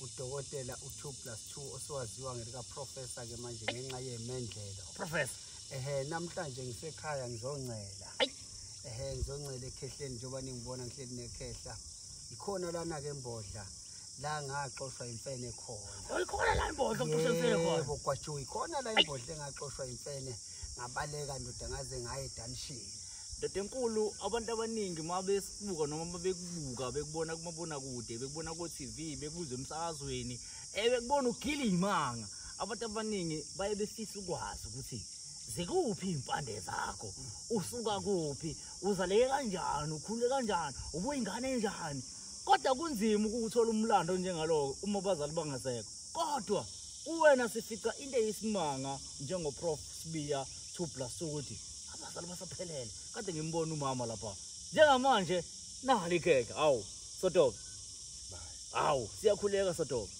udokotela u2 plus 2 osewaziwa ngelikaprofessor ke manje ngenxa yemendlela professor ehe namhlanje ngisekhaya ngizoncela ehe ngizoncela ekhehleni njengoba ningibona ngihleli nekhehla ikhona lana ke mbodla la ngaxoshwa imfene khona oyikhona la imbodla oxoshwa imfene khona yebo kwajuyi khona la imbodla engaxoshwa imfene yeah. ngabaleka ndoda ngaze ngaye dunshini ndoda enkulu abantu abaningi uma besibuka noma uma bekubuka bekubona kumabonakude bekubona ko-tv bekuzwe emsakazweni um bekubona ugile iy'manga abantu abaningi baye befisa ukwazi ukuthi zikuphi iy'mpande zakho usuka kuphi uzaleke kanjani ukhule kanjani ubuyingane enjani kodwa kunzima ukuwuthola umlando onjengaloko uma abazali bangasekho kodwa kuwena sifica into eyisimanga njengoprof sibiya two plus ukuthi abazali basaphelele kade ngimbona umama lapha njengamanje nali ikhekhe hawu sotobe hawu siyakhuleka sotobe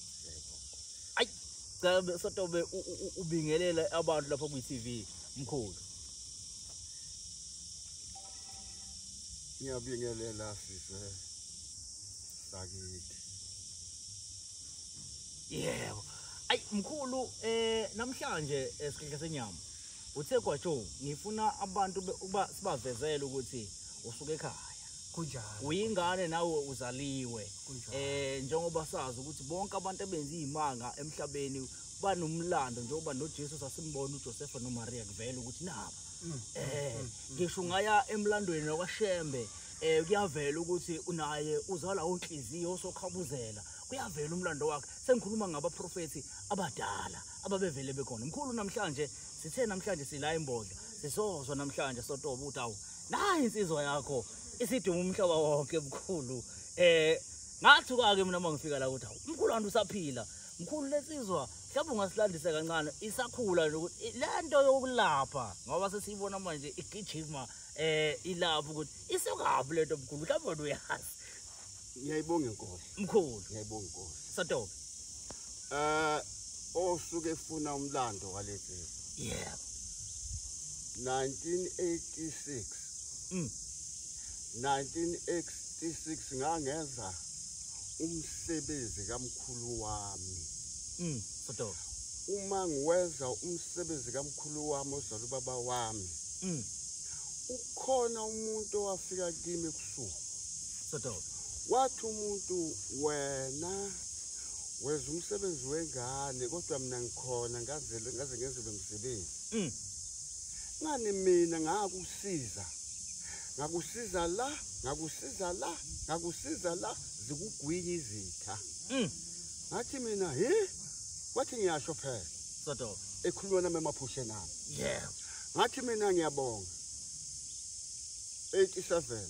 ayi cha sotobe ubingelela abantu lapha kwi-tv mkhulu ngiyabingelela sise sakithi yebo ayi mkhulu eh namhlanje esikhehla eh, senyama uthe kwajo ngifuna abantu ukuba sibavezele ukuthi usuke ekhaya kunjalo uyingane nawe uzaliwe eh njengoba sazi ukuthi bonke abantu abenza izimanga emhlabeni banomlando njengoba noJesu sasimbona uJoseph noMaria kuvela ukuthi naba mm. eh mm. Mm. ngisho ngaya emlandweni wakwaShembe eh kuyavela ukuthi unaye uzala onhliziyo osokhabuzela kuyavela umlando wakhe sengikhuluma ngabaprofethi abadala ababevele bekhona mkhulu namhlanje sithe namhlanje sila imbodla sisozwa namhlanje sotoba ukuthi awu nayi insizwa yakho isiduma umhlaba wonke mkhulu eh ngathi kwake mina mangifika la ukuthi awu mkhulu wantu usaphila mkhulu lesizwa mhlawumbe ungasilandisa kancane isakhula nje ukuthi lento yokulapha ngoba sesiyibona manje igijima eh ilapho ukuthi isokaphi lento mkhulu mhlawumbe wena uyazi ngiyayibonga inkosi mkhulu ngiyayibonga inkosi sotobe eh osuke efuna umlando walezizwe yebo 1986 mm 1986 ngangeza umsebenzi kamkhulu wami mm Fudo. Uma ngiwenza umsebenzi kamkhulu wami ozala ubaba wami. Mm. Ukhona umuntu owafika kimi kusuku. Fudo. Wathi umuntu wena wenza umsebenzi wengane kodwa mina ngikhona ngazele ngaze ngenze lo msebenzi. Mm. Ngani mina ngakusiza. Ngakusiza la, ngakusiza la, ngakusiza la zikugwinya izitha. Mm. ngathi mina hi wathi ngiyasho phela sodo ekhuluma nami emaphushe nami yeah ngathi mina ngiyabonga 87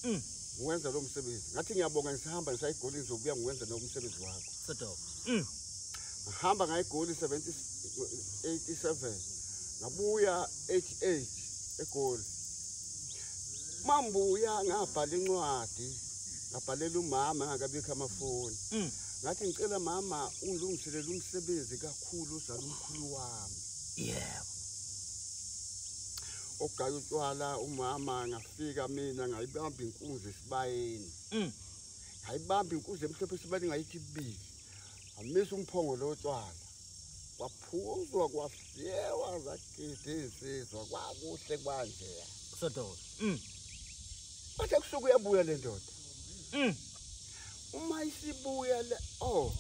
mm ngiwenza lo msebenzi ngathi ngiyabonga ngisihamba ngisayigoli ngizobuya ngiwenza lo msebenzi wakho sodo mm ngihamba ngayigoli 77 ngabuya 88 egoli mambuya ngabhala incwadi ngabhalela umama angakabikho amafoni mm. ngathi ngicela mama ungilungiselele umsebenzi kakhulu uzala umkhulu wami yebo ogaya utshwala umama ngafika mina ngayibamba inkunzi esibayeni mm. ngayibamba inkunzi emhlophe esibayeni ngayithi bili amisa umphongo lo tshwala kwaphuzwa kwafyewa Ngidizizwa kwakuhle kwanje. Sodola. Mm. Bathe kusuka uyabuya le ndoda. Mm. Uma isibuya le oh.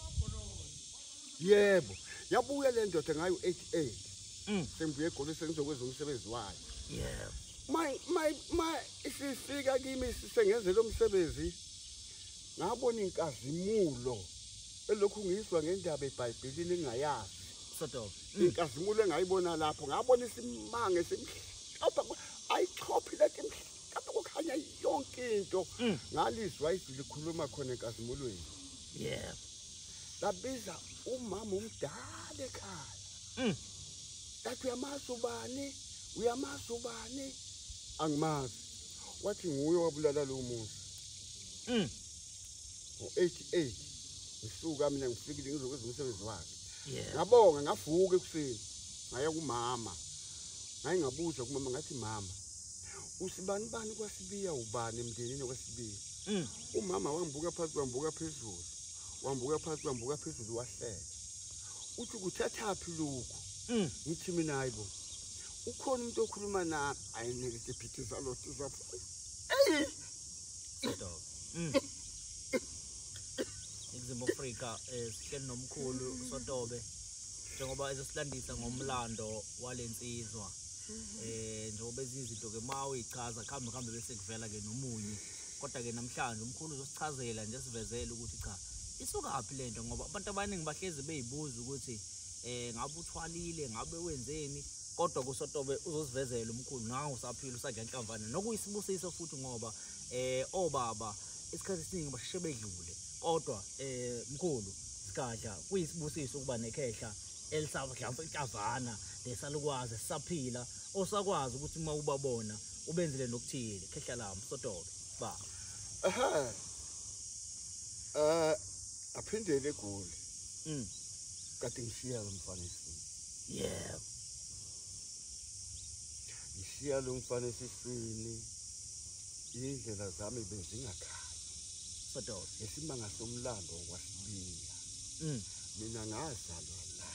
Yebo, yabuya le ndoda ngayo 88. Mm. Sengibuye egoli sengizokwenza umsebenzi wayo. Yebo. My my my isifika kimi sisengenze lo msebenzi. Ngabona inkazimulo elokhu ngizwa ngendaba eBhayibhelini engayazi. Sodola. inkazimulo engayibona lapho ngabona isimanga esimhlophe ayichophi leti mhlophe kukhanya yonke into mm. ngalizwa izwi likhuluma khona enkazimulweni yebo labiza umama omdala ekhaya mm. lathi uyamazi ubani uyamazi ubani angimazi wathi nguye wabulala lowo muntu mm. ngo-88 ngisuka mina ngifikile ngizokwenza umsebenzi wakhe ngabonga ngavuka ekuseni ngaya kumama ngaye ngabuza kumama ngathi mama usibani bani kwasibiya ubani emndenini kwasibiya mm. umama wangibuka phansi wambuka phezulu wambuka phansi wambuka phezulu wahleka uthi kuthathaphi lokhu mm. ngithi mina hayi bo ukhona umuntu okhuluma nami ayinike isiphithi zalothi zafa eyi iningizimu afrika um eh, sihleli nomkhulu usotobe njengoba ezosilandisa ngomlando wale nsizwa um njengoba ezinye izinto-ke ma uyichaza kuhambe kuhambe bese kuvela-ke nomunye kodwa-ke namhlanje umkhulu uzosichazela nje sivezele ukuthi cha isukaphi le nto ngoba abantu abaningi bahlezi beyibuza ukuthi um ngabe uthwalile ngabe wenzeni kodwa kusotobe uzosivezela umkhulu nangu usaphila usadla inhlamvana nokuyisibusiso futhi ngoba eh obaba isikhathi esiningi basheshe bedlule kodwa eh mkhulu sigadla kuyisibusiso ukuba nekhehla elisavadlansa inhlavana lesalukwazi sisaphila osakwazi ukuthi uma ubabona ubenzile nokuthile khehla lami sotobe ba aha eh aphindele egoli mm kade ngishiya lo mfanisini yebo ngishiya lo mfana esiswini indlela zami bezingakhaya sododa ngesimanga somlando wakwasibiya mm. mina ngazalwa la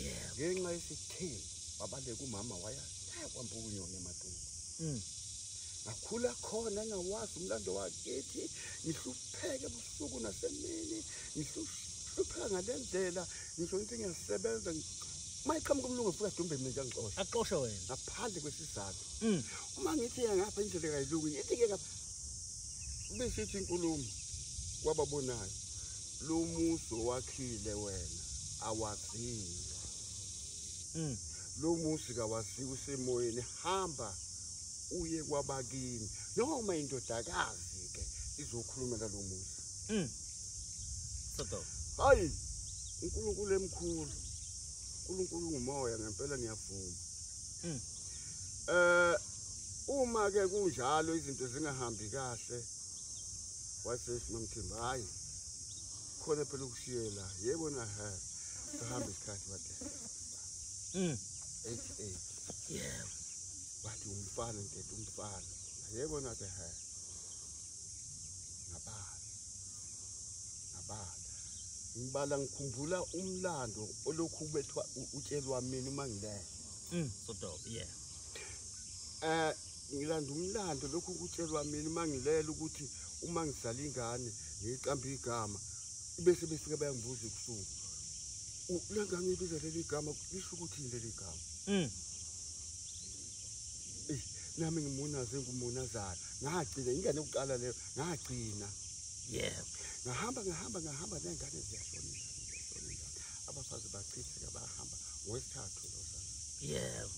yebo ngenxa yesithembu babaleka umama waya kwampa ukunyona emathunga mm. ngakhula khona engawazi umlando wakithi ngihlupheke busuku nasemini ngihlupheka ngale ndlela ngisho into engiyasebenza uma iqhamuka umlungu futhi adumbe mina nje angixoshe axoshe wena ngaphandle kwesizathu mm. uma ngithi ya ngapha indlela kayilungu ngithi ke ngapha besithi inkulumo kwababonayo lo muso wakhile wena awazile mm. lo musi kawaziwe usemoyeni hamba uye kwabakini noma indodakazi ke izokhulumela lo muzi Mm. Soto. Hayi. uNkulunkulu emkhulu. uNkulunkulu ngumoya ngempela ngiyavuma. Mm. Eh uma ke kunjalo izinto zingahambi kahle wasethi mamthemba hayi khona phela ukushiyela yebo na ha sihamba isikhathi bade mm 88 yebo bathi umfana ntethe umfana yebo na ke ha ngabala ngabala ngibala ngikhumbula umlando olokhu ubethwa utshelwa mina uma ngilele mm sodo yeah eh ngilanda umlando lokhu kutshelwa mina uma ngilela ukuthi uma ngizala ingane ngiyiqamba igama bese befike bayangibuza ebusuku ulangangibiza leli gama lisho ukuthi yini leli gama mm. nami ngimunaze ngumunazana ngagcina ingane yokuqala leyo ngagcina yebo ngahamba ngahamba ngahamba nengane ziyashona ingane ingane abafazi bachitheka bahamba ngowesithathu losana yebo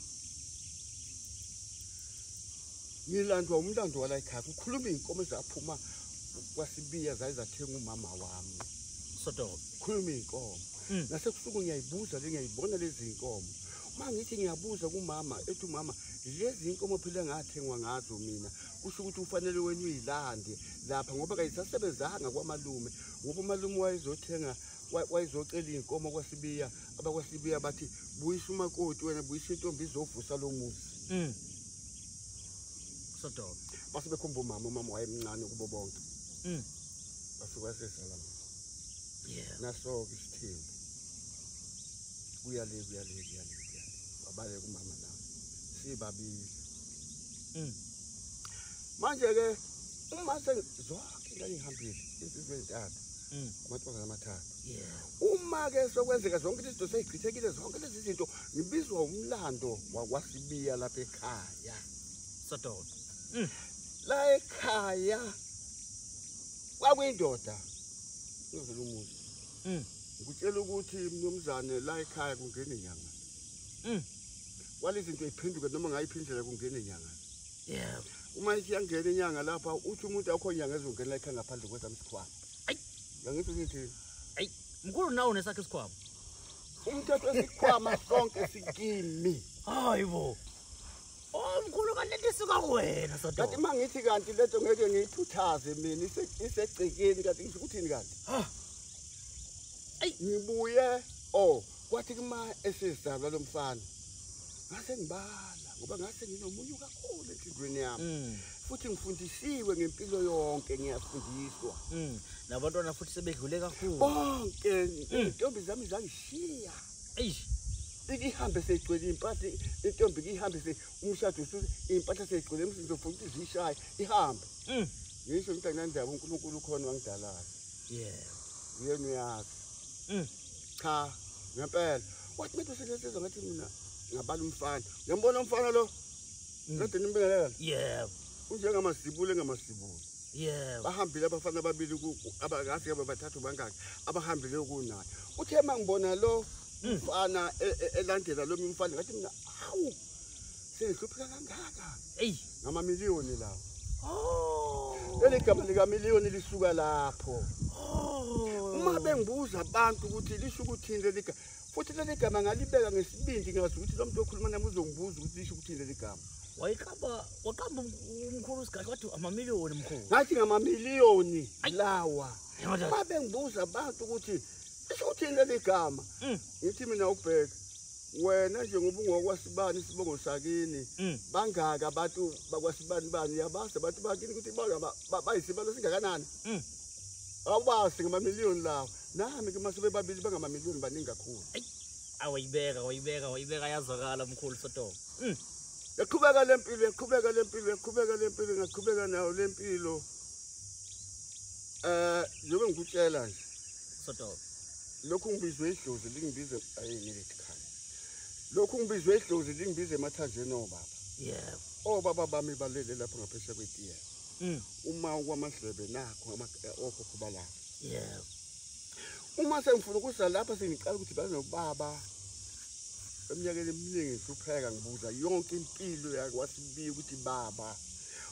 ngilandwa umlando wala ekhaya kukhuluma iy'nkomo ezaphuma kwasibiya zaye zathenga umama wami sodobe khuluma iy'nkomo hmm. nasebusuku ngiyayibuza le ngiyayibona lezi y'nkomo uma ngithi ngiyabuza kumama ethi umama lezi nkomo phela ngathengwa ngazo mina kusho ukuthi ufanele wena uyilande lapha ngoba kayisasebenzanga kwamalume ngoba umalume wayezothenga wayezocela iy'nkomo kwasibiya abakwasibiya bathi buyisa umakoti wena buyisa intombi izovusa lo muzi mm. sodoba base bekhomba umama umama wayemncane kubo bonke mm. base kwasesala naso-ke isithembu kuya le kuya le kuya le kuya babaleka umama la sibabili mm. manje ke uma sengizwakhe ngangihambile insizwa ezintathu mm. amantombazana amathathu uma ke sokwenzeka zonke izinto seyichithekile zonke lezi zinto ngibizwa umlando wakwasibiya lapha ekhaya sododa mm. la ekhaya kwakuyindoda ngizela umuzi Mm. Ngikutshela ukuthi mnumzane la ekhaya kungene nyanga. Mm. Wale zinto iphenduke noma ngayiphi indlela kungene nyanga. Yeah. Uma isiyangena inyanga lapha uthi umuntu akho nyanga ezongena la ekhaya ngaphandle kwethu amsikhwama. Ay. Yangithi ngithi ay mkhulu nawo nesakhe isikhwama. Umthetho esikhwama sonke sikimi. Hayibo. Oh mkhulu kanti lento isuka kuwena sodo. Kanti mangithi kanti lento ngeke ngiyithuthaze mina isegcekeni kanti ngisho ukuthini kanti? Ha. Ay ngibuye oh kwathi kuma esizalwa lomfana. Ngase ngibala ngoba ngase nginomunyu kakhulu enhlizweni yami. Mm. Futhi ngifundisiwe ngempilo yonke ngiyafundiswa. Mm. Nabantwana futhi sebedlule kakhulu. Bonke mm. intombi zami zangishiya. Mm. eish ikihambe seyigcwele impahla intombi kihambe se umshado usuze impahla seyigcwele umsizo futhi ukuthi zishaye ihambe mm. ngisho ukuthi anandaba uNkulunkulu ukhona wangidalayo yeah uyena uyazi mm. cha ngempela wathi manje usenesizwa ngathi mina ngabala umfana uyambona umfana lo mm. kade nimbingelela yebo unjengamasibulo engamasibulo yebo bahambile abafana ababili abakazi ke bathathu bangaki abahambile kunaye uthe mangibona lo hmm. mfana e, e, elandela lo mfana ngathi mina hawu sengihlupheka kangaka eyi ngama million lawo oh leli gama lika million lisuka lapho oh uma bengibuza abantu ukuthi lisho ukuthini leli gama futhi leli gama ngalibeka ngesibindi ngazi ukuthi lo muntu okhuluma nami uzongibuza ukuthi lisho ukuthini leli gama wayiqamba waqamba umkhulu usigahle wathi amamiliyoni mkhulu ngathi ngamamiliyoni lawa babengibuza abantu ukuthi isho ukuthini leli gama mm. ngithi mina ubheka wena nje ngoba ungokwasibani isibongo sakini mm. bangaka abantu bakwasibani bani yabazi abantu bakini ukuthi bayisibalo singakanani mm. awubazi ngamamiliyoni lawa nami ke mase bebabili bangamamiliyoni baningi kakhulu awayibeka wayibeka wayibeka yazwakala mkhulu sotomo mm. yaqhubeka le mpilo yaqhubeka le mpilo yaqhubeka le mpilo ngaqhubeka nayo le mpilo um njengoba ngikutshela nje sotomo lokhu ngibizwe idlozi lingibize ayi ngilithi khani lokhu ngibizwe idlozi lingibize emathanjeni obaba yebo obaba bami balele lapho ngaphesheya kwetiyela mm. uma kwamadlebe nakho okhokho balapho yebo uma sengifuna ukusa lapha sengiqala ukuthi banobaba eminyakeni eminingi ngihlupheka ngibuza yonke impilo yakwasibiya ukuthi baba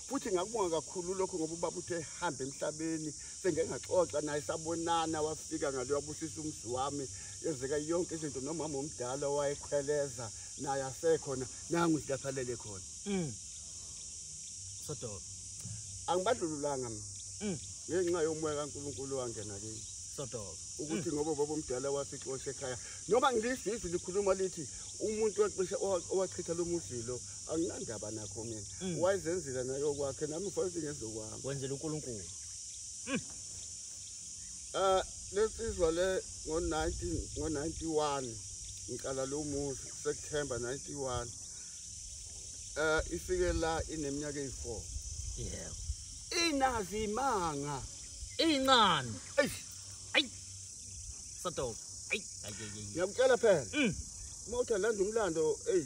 futhi ngakubonga kakhulu lokho ngoba ubaba uthe hambe emhlabeni sengengaxoxa naye sabonana wafika ngale wabusisa umzi wami yenzeka yonke izinto nomama omdala owayekhweleza naye asekhona nangu silathalele khona mm. Sodobe. Angibadlululanga mina. Mm. Ngenxa yomoya kaNkulunkulu wangena kimi. Sodobe. Ukuthi mm. ngoba baba omdala wasixosha ekhaya. Noma ngilisizi likhuluma lithi umuntu waxisha owachitha lo muzilo anginandaba nakho mina. Mm. Wayezenzela nayo kwakhe nami mfowethu ngezokwami. Wenzela uNkulunkulu. Mm. Ah lesizwa le ngo 19 ngo 91 ngiqala lo muzi September 91 eh ifike la ineminyaka eyi4 yebo inazi imanga incane eish ay sato ay ngiyakutshela phela mm. uma uthi landa umlando ey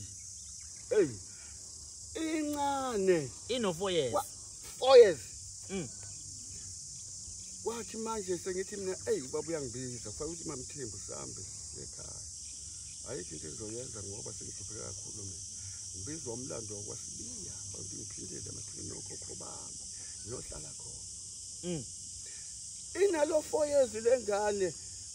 ey incane ino 4 years 4 years mm wathi manje sengithi mina ey ubaba uyangibiza kufanele ukuthi mamthembu sambe ekhaya ayikho into engizoyenza ngoba sengihlupheke kakhulu mina ngibizwa umlando wakwasibiya bantu ngiphindele emathuneni okhokho bami ngiyohlala khona mm. inalo four years le ngane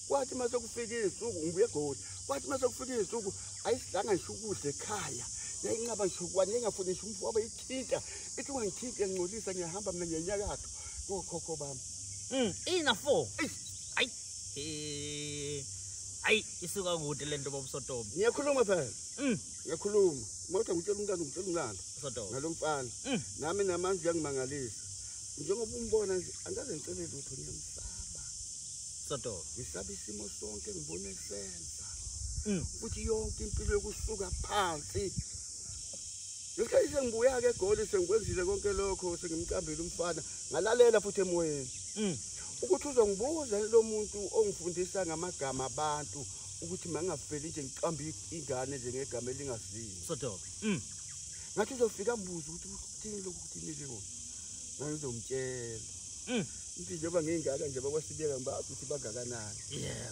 kwathi uma sekufika izinsuku ngibuye egoli kwathi uma sekufika izinsuku ayisidlanga ngisho ukudla ekhaya yayinqaba ngisho kwani yayingafuni ngisho umfo wabe ithinta ithi ungangithinti yangingcolisa ngiyahamba mina ngiyenyakatho kokhokho bami mm. ina four ayi isuka kude lento baba usotomo ngiyakhuluma phela mm. ngiyakhuluma ngoba ngitshela umntana ngitshela umntana usotomo ngalomfana mm. nami namanje uyangimangalisa njengoba umbona nje angaze ngicele lutho ngiyamsaba soto ngisaba isimo sonke ngibona esenza mm. futhi yonke impilo yokusuka phansi ngesikhathi sengibuya-ke egoli sengikwenzile konke lokho sengimqambile umfana ngalalela futhi emoyeni mm. ukuthi uzongibuza lo muntu ongifundisa ngamagama abantu ukuthi mangingafeli nje ngiqambe ingane nje ngegama elingazini sodobe mm. ngathi uzofika mbuza ukuthi kuthini lokhu kuthini leko ngangizomtshela mm. ngithi njengoba ngiyingaka nje bakwasibeka ngibazi ukuthi bangakanani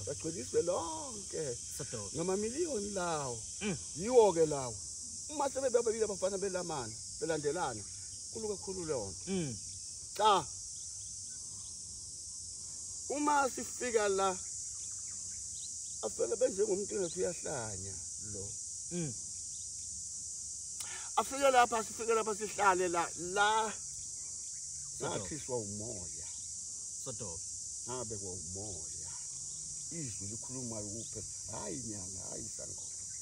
bagcweliswe lonke ngamaliyoni lawo yiwo-ke lawo uma sebebabili abafana belamana belandelana kulu kakhulu leyo nto mm. cha uma sifika la afike benjengomuntu ngathi uyahlanya lo mm. afike lapha sifike lapha sihlale la la sathiswa umoya sodobe ngabe kwa umoya izwi likhulumayo kuphe hayi nyanga hayi sangoma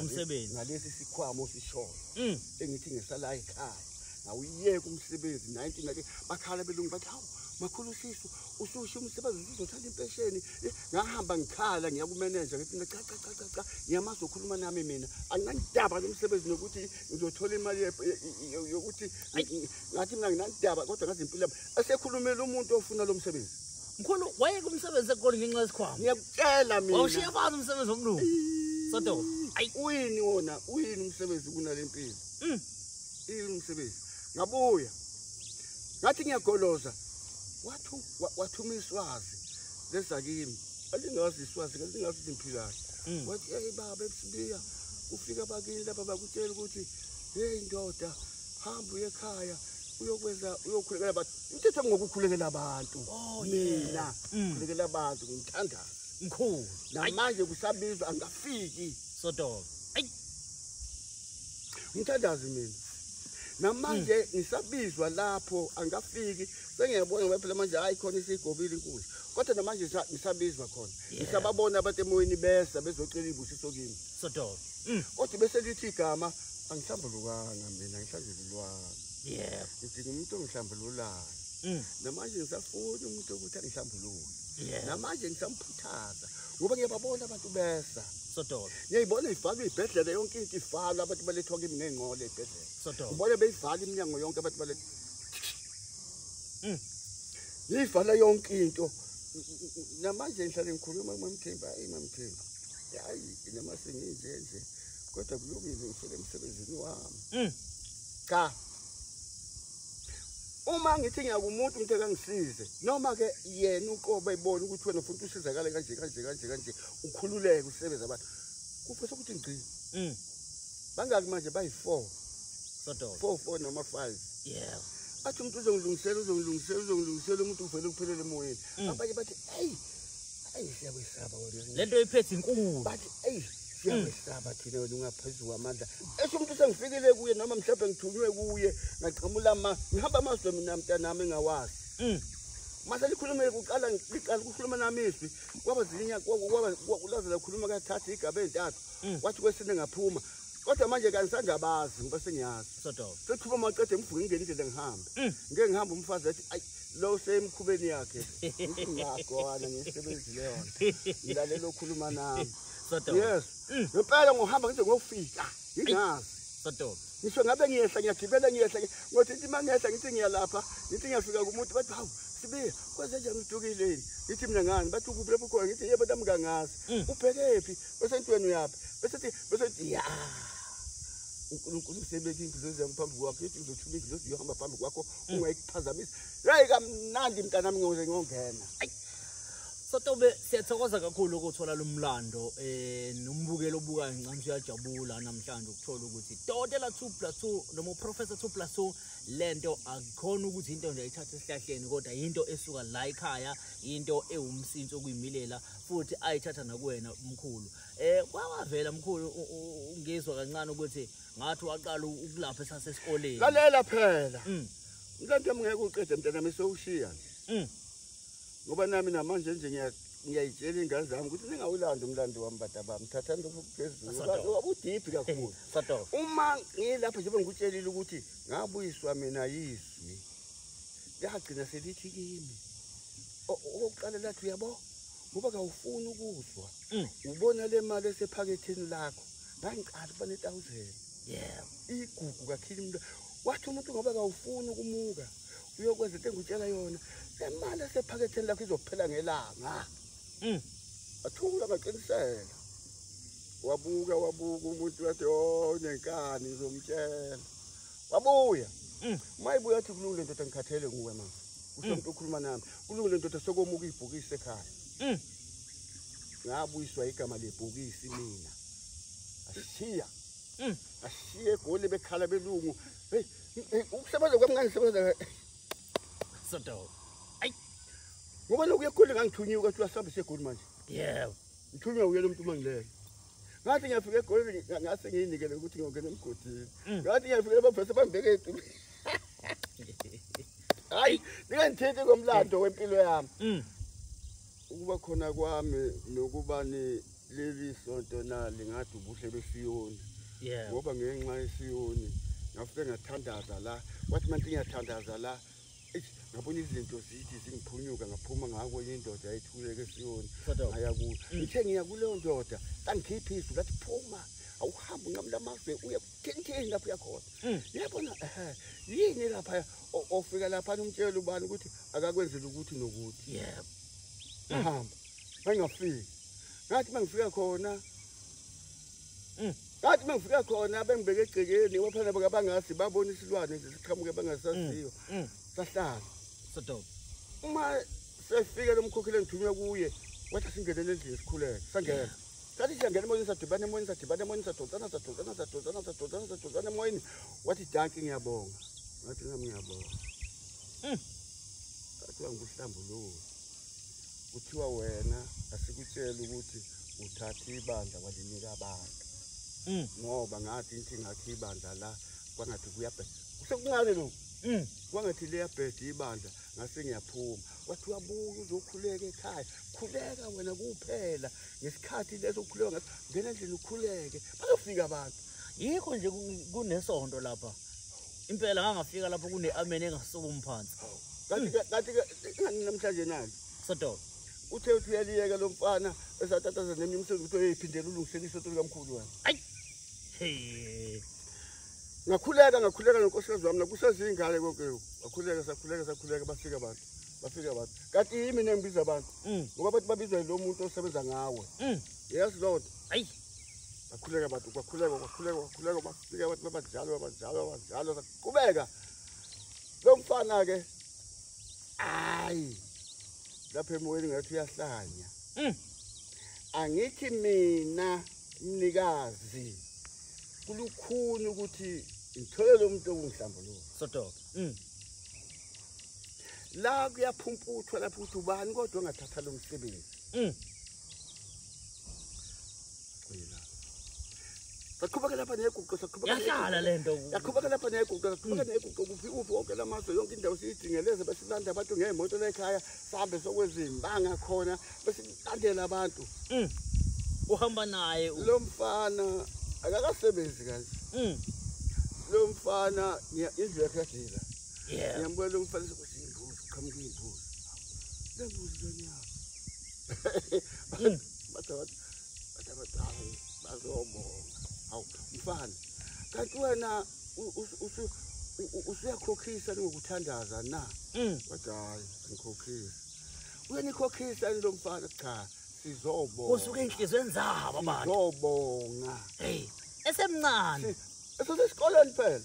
umsebenzi nalesi sikhwama osishoyo mm. engithi ngesala ekhaya ngawuyeka umsebenzi 19 ake bakhala belungu bathi hawu makhulu usisu ususho umsebenzi usuzothanda impesheni eh, ngahamba ngikhala ngiya kumeneja ngithi mina cha cha cha cha cha ngiyamazi okhuluma nami mina anginandaba nomsebenzi nokuthi ngizothola imali yokuthi ngathi mina nginandaba kodwa ngazi impilo yami esekhulumela umuntu ofuna lo msebenzi mkhulu wayeke umsebenzi ekukoni ngenxa yesikhwama ngiyakutshela mina wawushiya phansi umsebenzi womlungu sodo ayi uyini wona uyini umsebenzi kunale mpilo mm. uyini umsebenzi ngabuya ngathi ngiyagoloza wathu wathuma iswazi leza kimi alingazi iswazi kalingazi izimphilane mm. wathi eyi baba ebusibiya kufika abakini lapha bakutshela ukuthi heyi ndoda hamba uye ekhaya uyokwenza uyokhulekela abantu imithetho yami ngokukhulekela abantu oh, mina mm. khulekela abantu ngimthandaza mkhulu namanje kusabizwa angafiki sodoka ayi ngithandazi mina namanje mm. ngisabizwa lapho angafiki sengiyabona ngoba phela manje hayi khona isigobile inkulu kodwa namanje ngisabizwa khona ngisababona abantu emoyeni besa bezocela ibusiso kimi Sodobe. Mm. Kodwa bese lithi igama angihlambulukanga mina ngihlambululwanga. Yebo. Ngidinga umuntu ongihlambululayo. Mm. Namanje ngisafuna umuntu ukuthi angihlambulule. Yebo. Namanje ngisamphuthaza ngoba ngiyababona abantu besa. Sodobe. Ngiyayibona ivalwe ibhedlela yonke into ivalwe abantu balethwa kimi ngengqole ibhedlela. Sodobe. Ngibona beyivala iminyango yonke abantu balethwa. Mm. Yivala yonke into. Namanje ngihlale ngikhuluma kumamthemba, ayi mamthemba. hayi noma senginje nje kodwa kulungile ngifike emsebenzini wami mm. cha uma ngithi ngiyakumuntu umuntu ekangisize noma ke yena uqoba ebona ukuthi wena futhi usizakale kanje kanje kanje kanje ukhululeke usebenza abantu kufisa ukuthi ngigcine mm. bangaki manje bayi-four four four noma five yeah athi umuntu uzongilungisela uzongilungisela uzongilungisela umuntu uvele kuphelele emoyeni mm. abanye bathi eyi eyi siyakwesaba wena le nto iphethe inkulu but eyi siyakwesaba thina wena ungaphezu kwamandla esho umuntu sengifikile kuye noma mhlawumbe ngithunywe kuye ngaqhamula ma ngihamba amazwe mina mntanami engawazi mm. mase likhulumele kuqala liqala ukukhuluma nami izwi kwaba zilinya kwaba laze lakhuluma kathatha igaba ezintathu mm. wathi kwesine ngaphuma kodwa manje kangisangabazi ngoba sengiyazi siqhuma maqede ngivuke ngingene indlela ngihambe mm. ngeke ngihambe umfazi athi ayi lo usemkhubeni yakhe ngakho ana ngisebenzile yona ngilalela okhuluma nami yes mm. ngempela ngohamba ngize ngofika ingazi sodoba ngisho ngabe ngiyehla ngiyagibela ngiyehla ngothi ngithi mangehla ngithi ngiyalapha ngithi ngiyafika kumuntu bathi hawu sibiye kwenze njani udukile yini ngithi mina ngani bathi ukuphi lapho khona ngithi yebo tami kangazi mm. ubhekephi bese ntweni uyaphi bese thi bese thi ya uNkulunkulu usebeke ingilozi yami phambi kwakho ithi ngizothuma ingilozi yohamba phambi kwakho mm. ungayikuphazamisa yayi kamnandi mntanami ngiyoze ngiyongena Sotobe siyathokoza kakhulu ukuthola lomlando eh nombukelo obukayo ngicamsha uyajabula namhlanje ukuthola ukuthi Dotela 2+2 noma uProfessor 2+2 lento akukhona ukuthi into nje ayithathe esihlahleni kodwa into esuka la ekhaya into ewumsinsi okuyimilela futhi ayithatha nakuwena umkhulu eh kwawavela mkhulu ngizwa kancane ukuthi ngathi waqala ukulapha esasesikoleni lalela phela mm. mntantwa mngeke uqede mntana mise ushiya nje mm. ngoba nami namanje nje ngiyayitshela ingane zami ukuthi ningawulandi umlando wami bada bami thathani lokho kuphezuluwabudiphi kakhulu uma ngilapha njengoba ngikutshelile ukuthi ngabuyiswa mina yizwi lagcina selithi kimi okokuqala lathi uyabo ngoba kawufuni ukuzwa mm. ubona le mali esephaketheni lakho ngangiqala ukuba ne-thousand yebo igugu kakhili umuntu wathi umuntu ngoba kawufuni ukumuka uyokwenza into engutshela yona le mali esephaketheni lakho izophela ngelanga mm. athula ngaqinisela wabuka wabuka umuntu wathi o oh, nenkani ngizomtshela wabuya mm. uma ibuya athi kulungile ndoda ngikhathele nguwe mama usho mm. mntu ukhuluma nami kulungile ndoda sekomuka ibhokisi ekhaya ngabuyiswa igama lebhokisi mina ashiya mm. ashiye egoli bekhala belungu hey ukusebenza kwami ngangisebenza sodo ayi ngoba lokuye egoli ngangithunyiwe ukuthi uyasihambisa egoli manje yebo ngithunywe uye lo mntu uma ngilele ngathi ngiyafika egolini ngase ngiyinikele ukuthi ngiyongena emgodini mm. ngathi ngiyafika abafese bangibeke etumbini hayi ningangithinti ngomlando wempilo yami mm. ukuba khona kwami nokuba leli sonto na lingathi ubuhle besiyoni ngoba ngenxa yesiyoni ngafike ngathandaza la wathi manje ngiyathandaza la ngabona izinto zithi zingiphunyuka ngaphuma ngako indoda yayithuleke esiyoni ngaya kuyo mm. ngithe ngiya kuleyo ndoda kangikhiphi izwi ngathi phuma awuhambe unqamula amazwe uye kuthenitheni lapho uyakhona mm. yabona ehe yini lapha ofika lapha umtshela ubani ukuthi akakwenzela ukuthi nokuthi yebo ngahamba ngingafiki ngathi mangifika khona Mm. Bathi mangifika khona bengibeke egcekeni waphana bakabangazi babona isilwane nje siqhamuke bangasaziyo. Mm. Mm. Sahlala. Sodoba. Uma sefike lomkhokheli engithunywa kuye wathi singenele endlini sikhuleke sangena sathi siyangena emoyeni sadibana emoyeni sadibana emoyeni sadonsana sadonsana sadonsana sadonsana sadonsana emoyeni wathi danki ngiyabonga ngathi nam ngiyabonga hmm. athiwa nguhlambululo kuthiwa wena asikutshela ukuthi uthathe ibandla walinika abantu mm. ngoba ngathi ngithi ngakhe ibandla la kwangathi kuyabheda kusekuncane lokhu mm. kwangathi liyabheda ibandla ngase ngiyaphuma wathi uyabuya uzokhuleka ekhaya khuleka wena kuphela ngesikhathi leso ukhuleka ngathi ngena endlini ukhuleke bazofika abantu yikho nje kunesonto lapha impela ngangafika lapho kune-amen engasukumi phansi kanti namhlanje nani sodoba uthe uthi uyaliyeka lo mfana esatataza nenye umsebenzi ukuthi oyeyiphindela ulungisela isoto likamkhulu wena ayi ngakhuleka ngakhuleka nonkosikazi wami nakusezingane konke ngakhuleka sakhuleka sakhuleka bafika abantu bafika abantu kanti yimi nengibiza abantu mm. ngoba bathi babizwa yilo muntu osebenza ngawe mm. yazi loo nto ayi bakhuleka abantu bakhuleka bakhuleka bakhuleka bafike abantu babanjalo babanjalo babanjalo saqhubeka lo mfana ke ayi lapha emoyeni ngathi uyahlanya hmm. angithi mina mnikazi kulukhuni ukuthi ngithole lo muntu okungihlambuluka sodoka hmm. la kuyaphumputhwa lapho ukuthi ubani kodwa ongathatha lo msebenzi hmm. Saqhubeka lapha neguqo saqhubeka. Yahlala lento. Yaqhubeka lapha neguqo saqhubeka hmm. neguqo kufi uphi wonke lamazwe yonke indawo siyidingeleze bese silanda abantu ngeemoto lekhaya sihambe sokwezimanga khona bese silandela abantu. Mm. Uhamba naye lo mfana akakasebenzi kanje. Mm. Lo mfana indlu yakhe yadila. Yeah. Ngiyambona lo mfana sokuthi imbuzi qhamuka imbuzi. Lembuzi lonyaka. mfana kanti wena usuyakhokhisa ningokuthandaza na mm. wathi hayi ngikhokhisa uyenikhokhisa ini lo mfana cha sizobonga usuke enhlizweni zabo abantu sizobonga hey esemncane esosesikoleni phela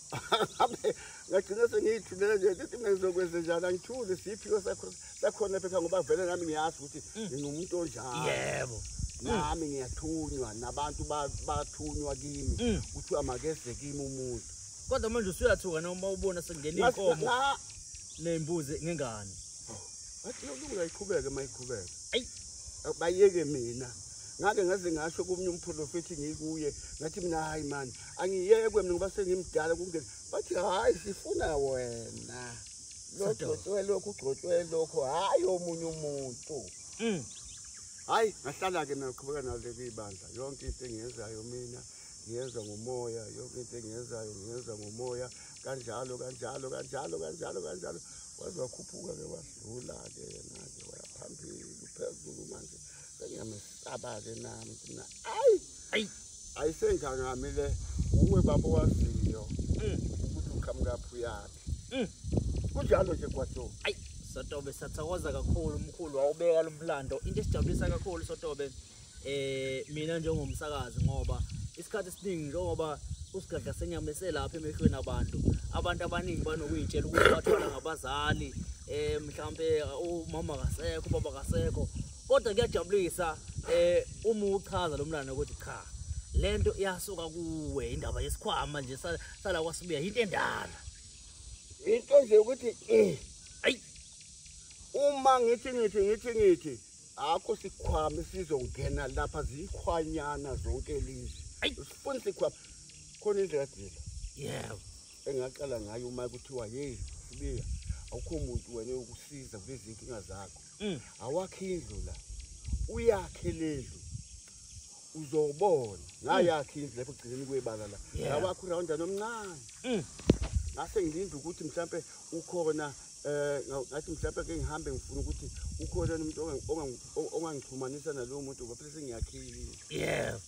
ngagcina sengiyithulele nje ukuthi mina ngizokwenze njani angithule siyiphiwo sakhona phetha ngoba vele nami ngiyazi ukuthi mm. ngingumuntu onjalo yebo mm. nami ngiyathunywa nabantu bathunywa kimi mm. kuthiwa makeze kimi umuntu kodwa manje usuyathuka noma ubona sekungena iy'nkomo ney'mbuzi ngengane athi yokulunga iqhubeke uma iqhubeke eyi bayeke mina ngake ngaze ngasho kumnye umprofethi ngikuye ngathi mina hayi mani angiyekwe mina ngoba sengimdala kungeni bathi hhayi sifuna wena logcotshwe lokhu ugcotshwe lokho hhayi omunye umuntu mm. hhayi ngahlala-ke naqhubeka nale kuyibandla yonke into engiyenzayo mina ngiyenza ngomoya yonke into engiyenzayo ngiyenza ngomoya kanjalo kanjalo kanjalo kanjalo kanjalo waze wakhuphuka-ke wadlula-ke yena-ke wayaphambili uphezulu manje Ngiyamesaba-ke nami thina. Ayi! Ayi! Ayisengangami le. Uwe baba waziyo. Mm. Ukuthi uqhamuka phi uyaphi. Mm. Kunjalo nje kwaTho. Ayi! Sotobe sathokoza kakhulu umkhulu wawubeka lo mlando. Into esijabulisa kakhulu Sotobe eh mina njengomsakazi ngoba isikhathi esiningi njengoba usigadla senyama eselapha emehlweni abantu abantu abaningi banokuyitshela ukuthi bathola ngabazali eh mhlambe umama kasekho baba kasekho kodwa kuyajabulisa eh uma uchaza lo mlando ukuthi cha lento iyasuka kuwe indaba yesikhwama nje sala kwasibuya into endala into nje ukuthi eh ay uma ngithi ngithi ngithi ngithi akho sikhwama sizongena lapha zikhwanyana zonke lezi sifuna sikhwama khona indlela dila yebo engaqala ngayo uma kuthiwa hey sibiya awukho muntu wena ukusiza kulezi nkinga zakho mm. awakhe indlu la uyakhe lendlu uzobona ngayakhe mm. indlu lapho gcineni kwebala la awakhe urawunda nomncane mm. ngase ngilinde ukuthi mhlampe ukhona eh ngathi mhlampe ke ngihambe ngifuna ukuthi ukhona umuntu ongangixhumanisa nalowo muntu ngoba phela sengiyakhile yeah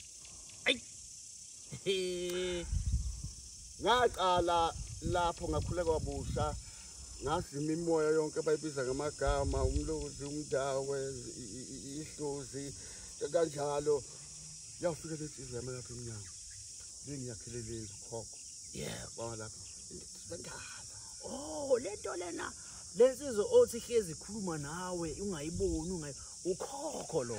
ngaqala lapho ngakhuleka kwabusha ngazi imimoya yonke bayibiza ngamagama umlozi umdawe ihlozi kanjalo yawufika le nsizwa yami lapha emnyango bengiyakhele le ndlu khokho yebo baba lapho sendala oh le nto lena le nsizwa othi hlezi ikhuluma nawe ungayiboni ungayi ukhokho lo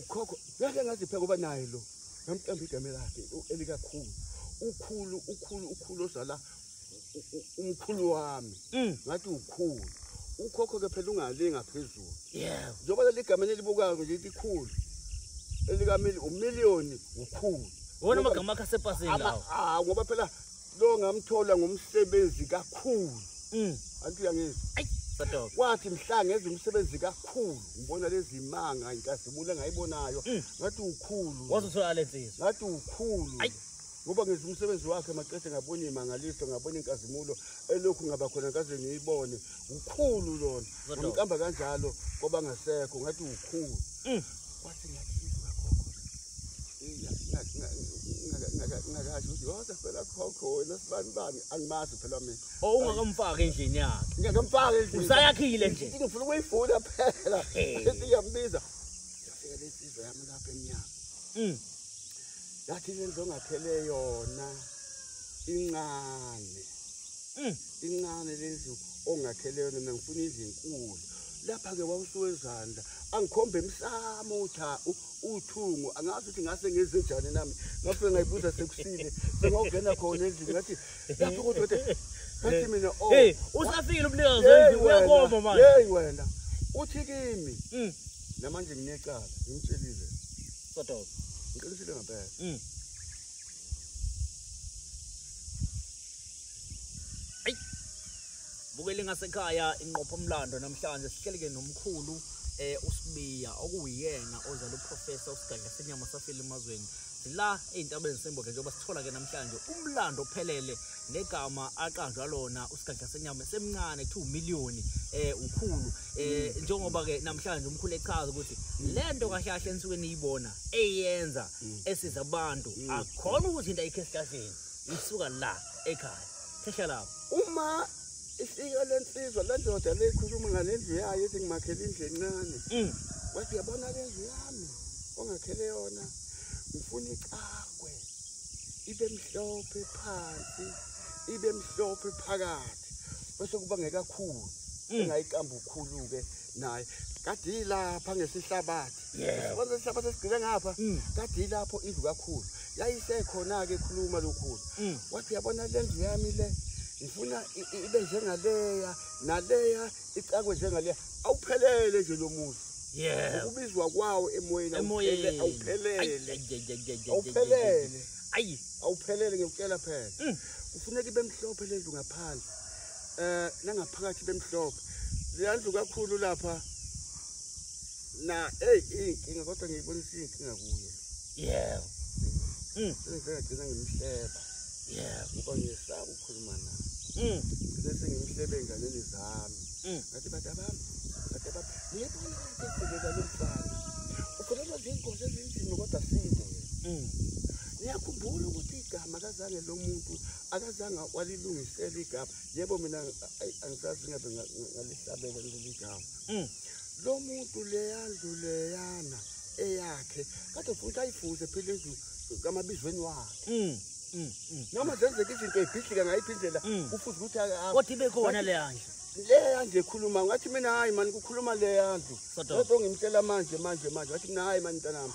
ukhokho ngeke ngazipheka uba naye lo ngamqamba igama lakhe elikakhulu ukhulu ukhulu ukhulu ozala umkhulu wami mm. ngathi ukhulu ukhokho ke phela ungale ngaphezulu yeah njengoba leli gama elibukayo nje likhulu elikamili umillion ukhulu wona amagama akhe asepasini lawo ah ngoba phela lo ngamthola ngomsebenzi kakhulu mm. anti uyangizwa kwathi mhla ngenza umsebenzi kakhulu ngibona lezi manga inkazimulo engayibonayo mm. ngathi ukhulu ngathi ukhulu ngoba ngenza umsebenzi wakhe maqede ngabona iy'mangaliso ngabona inkazimulo elokhu ngaba khona ngaze ngiyibone ukhulu lona ngamqamba kanjalo kwabangasekho ngathi ukhulu mm. kwathi ngathi ngakasho ukuthi yoze phela khokho wena sibani bani angimazi phela mina o ungakamfaki endlini yakhe ngingakamfaki endlini usayakhile nje ngifuna ukuyifuna phela ethi ngiyambiza yafika lesizwe yami lapha emnyama mm. yathi lento ngakhele yona incane mm. incane lendlu ongakhele yona mina ngifuna indlu enkulu lapha-ke wawusuwezandla angikhombe emsamo uthi uthungo angazi ukuthi ngase ngenze njani nami ngafike ngayibuza sekusile sengawungena khona endlini ngathi lapho kodwa ukuthi ngathi mina o oh. usafikile umnikazi wendlu uyakoma manje yeyi wena uthi kimi mm. namanje nginecala ngimtshelile sodoba ngiqinisile ngempela mm. Bukeli ngasekhaya inqopho omlando namhlanje sihleleke nomkhulu eh usibiya okuyena ozala uprofessor usigadla senyama safile emazweni sila ezintabeni semboke njengoba sithola ke namhlanje umlando ophelele negama aqanjwa lona usigadla senyama semncane kuthiwa umiliyoni eh ukhulu eh mm. njengoba ke namhlanje umkhulu echaza ukuthi lento kahle kahle ensuke niyibona eyenza mm. esiza abantu mm. akhona ukuthi into ayikhe esihlahleni isuka la ekhaya Phesha lapho. Uma ifika lensizwa lendoda leyikhuluma ngalendlu yayo ethi ngimakhele indlu encane. Mm. Wathi yabona lendlu yami ongakhele yona ngifuna icakwe ibe mhlophe phansi ibe mhlophe phakathi bese kuba ngekakhulu mm. engayikambukhulu ke naye kade yilapha ngesihlabathi yabona isihlabathi esigcine ngapha mm. kade yilapho indlu kakhulu yayisekhona-ke ekhuluma lokhulu mm. wathi yabona le ndlu yami le ngifuna ibe njengaleya naleya icakwe njengaleya awuphelele nje lo muzi ukubizwa kwawo emoyeni awuphelele awuphelele ngikutshela phela mm. kufuneka ibe mhlophe le ndlu ngaphandle eh nangaphakathi bemhlophe leyandlu kakhulu lapha na hey inkinga kodwa ngiyibonisa inkinga kuyo yebo mm ngicela ngimhleba yebo ngoba ngisaba ukukhuluma naye mm bese ngimhlebe enganeni zami mm ngathi bathi abami bathi abami ngiyibona ukuthi ngibeka lo mfana ukhuluma ngengozi ezinzima kodwa sinde mm niyakhumbula ukuthi igama kazange lo muntu akazange walilungisela igama yebo mina angisazi ngabe ngalihlabela leli gama mm. lo muntu leyandlu leyana eyakhe kade futhi ayifuze phela indlu kamabizweni wakhe mm, mm, noma zenzeka izinto eyibhidlika ngayiphi indlela kufuze ukuthi kodwa ibe khona leyandlu leyandlu ekhuluma ngathi mina hhayi mani kukhuluma leyandlu lento ngimtshela manje manje manje ngathi mina hhayi mani mntanami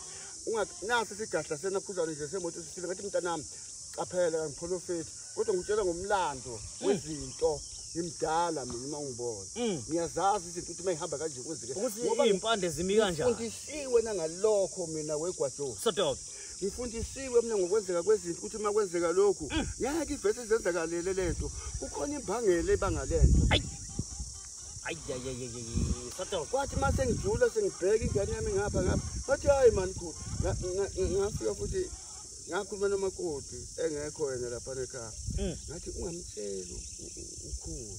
nasi sigadla senakhuzane nje semoto sisile ngathi mntanami Qaphela kangiprofeti kodwa ngitshela ngomlando hmm. wezinto ngimdala mina uma ungibona hmm. ngiyazazi izinto ukuthi mayihamba kanje kwenzeke ukuthi impande zimi kanjani ngifundisiwe nangalokho mina wegwajo sodobe ngifundisiwe mina ngokwenzeka kwezinto ukuthi uma kwenzeka lokhu hmm. ngeke ivese izenzakalele lento kukhona imbangela ebanga lento kwathi uma sengijula sengibheka ingane yami ngapha ngapha ngathi hayi mani khulu ngafika futhi ngakhuluma nomakoti engekho yena lapha nekhaya mm. ngathi ungamtsheli ukhulu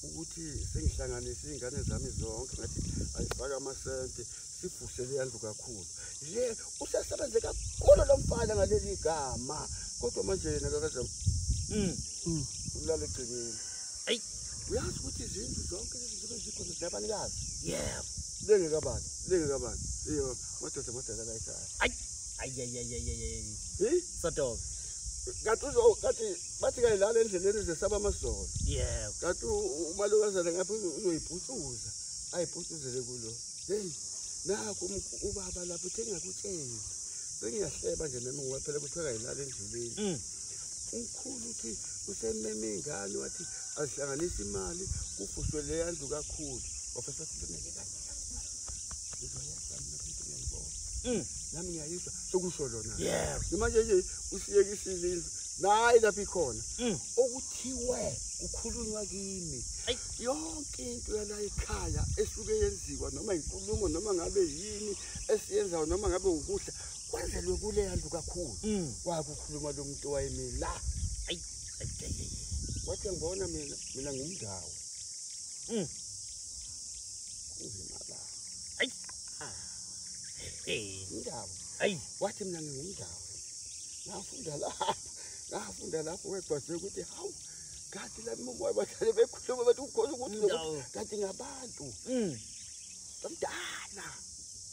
ukuthi sengihlanganise iy'ngane zami zonke ngathi ayifake amasenti sibhuse leya ndlu kakhulu le usesebenze kakhulu lo mfana ngaleli gama kodwa manje yena kakazam mm. mm. ulala egcekeni eyi uyazi ukuthi izindlu zonke lezi zibe zikhona zinabanikazi yebo lengekabani lengekabani iyo madoda madoda la ekhaya ayi ayayayayayay sort of kathi uzo kathi bathi kayilala endleleni zesaba amasolo yebo kathi umalokazana ngapha uzoyibhucuza ayibhucuzele kulo hey nakho ubaba lapho uthe ngakutshela bengiyahleba nje nami ngoba phela kuthiwa kayilala endleleni mm. umkhulu uthi usememe ingane wathi azihlanganise imali kufuswe leya ndlu kakhulu wafesa silineke kanje Mm. nami ngiyayizwa sokusho lona manje nje usiyekisile indlu nayi lapho ikhona mm. okuthiwe kukhulunywa kimi yonke into yala ekhaya esuke yenziwa noma inkulumo noma ngabe yini esiyenzayo noma ngabe ukudla kwenzelwe kuleya ndlu kakhulu mm. kwakukhuluma lo muntu wayemile la wathi ngibona mina mina ngumndawo Indawo. Hayi, wathi mina ngingumdawo. Ngafunda lapha. Ngafunda lapho wegwaze ukuthi hawu kanti la mama bahlale bekhuluma bathi ukhona ukuthi kanti ngabantu. Mm. Kamdala.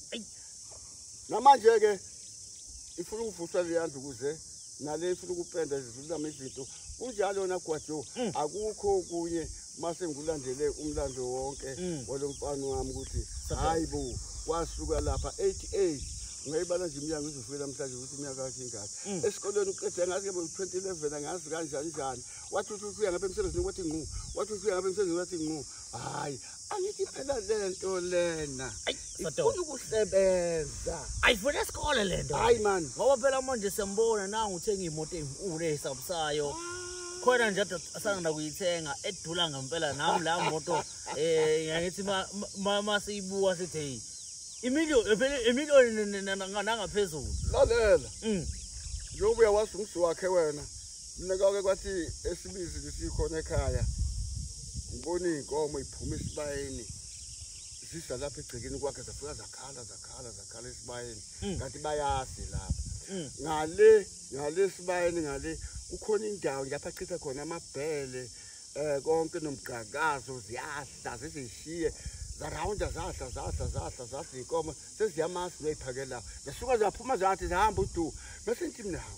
Hayi. Namanje ke ifuna ukuvuswa leyandlu kuze nale ifuna ukupenda zidlulama izinto kunjalo yona gwajo mm. akukho kunye mase ngikulandele umlando wonke mm. walo mfana wami ukuthi hayi bo kwasuka lapha 88 ngayibala nje imnyango izofika namhlanje ukuthi imyaka yakhe ingaki mm. esikolweni uqede ngazi kebe 2011 angazi kanjani njani wathi uthi uya ngabe emsebenzini kwathi nqu wathi uthi uya ngabe emsebenzini kwathi nqu hayi angithi phela lento lena ifuna ukusebenza ayifuna esikole lento hayi man ngoba phela manje sembona nangu uthenga imoto enkulu esabusayo khona nje asangena kuyithenga edula ngempela nami la moto eh ngithi mama siyibuka sithi hey imillion phela imillion nangaphezulu lalela mm. njengoba uyawazi umsi wakhe wena mina kwake kwathi esibizi lisikhona ekhaya ngibona iy'nkomo iphuma esibayeni zisa lapha egcekeni kwakhe zafika zakhala zakhala zakhala esibayeni hmm. kanti bayazi lapha hmm. ngale ngale esibayeni ngale kukhona indawo lapha achitha khona amabhele um konke nomgqakazo ziyahla zizishiye zarawunda zahla zahla zahla zahla iy'nkomo seziyamasi noyiphakelao zasuka ziyaphuma zathi zihamba udu bese nti mnawo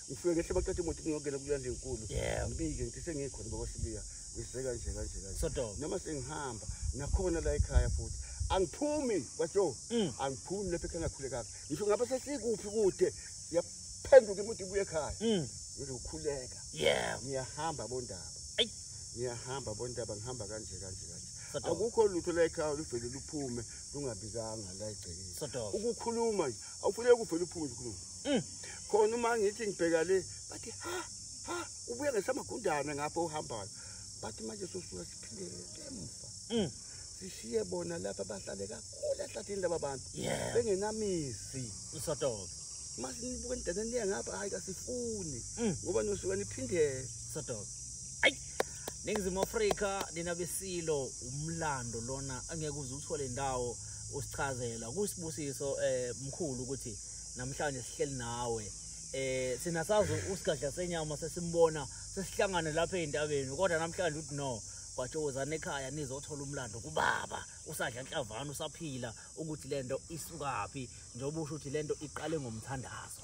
ngifike ngehle baqeda imoto ngiyongena kulanda enkulu ngibike ngithi sengikhona baba sibiya ngiseka nje kanje kanje noma sengihamba nakhona la ekhaya futhi angiphumi kwajo mm. angiphumi lapha ekhaya ngakhule kahle ngisho ngabe sesikuphi kude yaphenduka imoto ibuye ekhaya mm. ngizokhuleka yeah ngiyahamba bondaba ngiyahamba bondaba ngihamba kanje kanje kanje akukho lutho la ekhaya luvele luphume lungabikanga la egcekeni ukukhuluma nje awufuneki uvele uphume nje ukhuluma Mm. Khona uma ngithi ngibheka le bathi ha ha ubuye ngesamagundane ngapho uhambayo. Bathi manje sosuka siphindele emva. Mm. Sishiye bona lapha bahlale kakhulu ehlathini laba bantu. Yeah. Bengenamizi. Usotoke. Mase nibuke nidana niye ngapha hayi kasifuni. Mm. Ngoba nosuka niphindele. Usotoke. Ayi. Ningizimu Afrika nina besilo umlando lona angeke uze uthole indawo usichazela kusibusiso eh mkhulu ukuthi namhlanje sihleli nawe eh sina sazi usigadla senyama sesimbona sesihlangane lapha ezintabeni kodwa namhlanje uthi no bajowozana ekhaya nizothola umlando kubaba usadla nhlavana usaphila ukuthi lento isukaphi njengoba usho ukuthi lento iqale ngomthandazo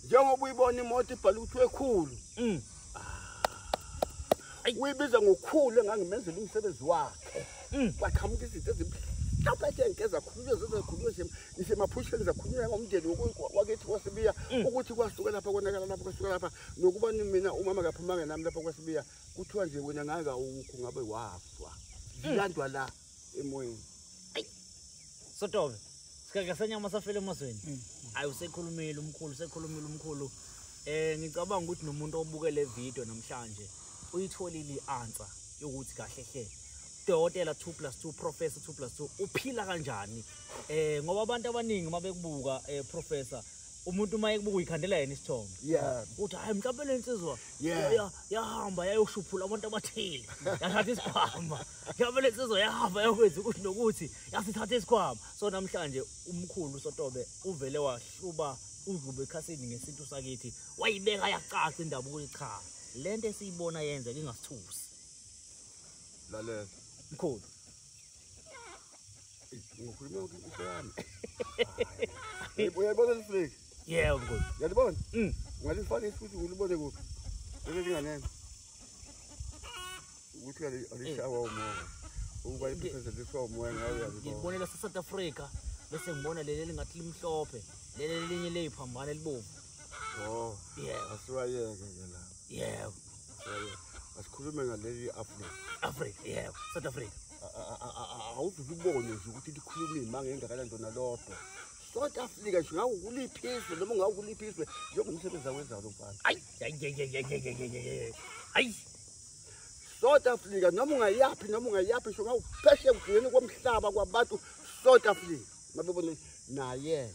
njengoba uyibona imoto ibhala ukuthi wekhulu mm. ah. uyibiza ngokhulu engangimenzela umsebenzi wakhe mm. kwaqhamuka izinto ezibuhlungu lapha ke ngeza khululwe zezakhululwe shem isemaphusheni zakhulumela ngomndeni wakithi kwasibiya mm. ukuthi kwasuka lapha konakala lapha kwasuka lapha nokuba mina umama kaphumanga nami lapha kwasibiya kuthiwa nje wena ngaka ukho ngabe wafa zilandwa mm. la emoyeni sotobe sikake senyama safele emazweni mm. ayi usekhulumile umkhulu usekhulumile umkhulu eh ngicabanga ukuthi nomuntu obuke le video namhlanje uyitholile i-answer yokuthi kahle hle dokotela 2 plus 2 professor 2 plus 2 uphila kanjani eh ngoba abantu abaningi uma bekubuka eh professor umuntu uma ekubuka uyikhandela yena isithombe yeah uthi hayi mhlawumbe le nsizwa yahamba yayoshuphula abantu abathile yathatha isikhwama mhlawumbe le nsizwa yahamba yokwenza ukuthi nokuthi yasithatha isikhwama so namhlanje umkhulu sotobe uvele wahluba udlube ekhasini ngesintu sakithi wayibeka yacaca indaba ukuthi cha le nto esiyibona yenzeka ingasithusi lalela mkhulu Ngikhuluma ukuthi useyami. Uyayibona lifleki? Yebo mkhulu. Uyalibona? Mm. Ngalifaka ifuthi ulibone kuphi? Leli linganene. Ukuthi alishawa eh. umoya. Ukuba ipheseze lishawa umoya ngayo uyalibona. Ngibonela se South Africa bese ngibona leli lingathi limhlophe. Leli linye leyiphambana elibomvu. Oh. Yeah. Asiwayeke ke lapho. yebo asikhulume ngaleli afrika afrika yebo south africa awuzuke ubone nje ukuthi likhuluma iy'manga engakanani ntona lodwa south africa nje ngawo kuliphiswe noma ngawo kuliphiswe njengomsebenzi awenzayo lo mfana ayi ayi south africa noma ungayaphi noma ungayaphi nje ngawo pheshe kugcineni komhlaba kwabantu south africa Mabebone naye.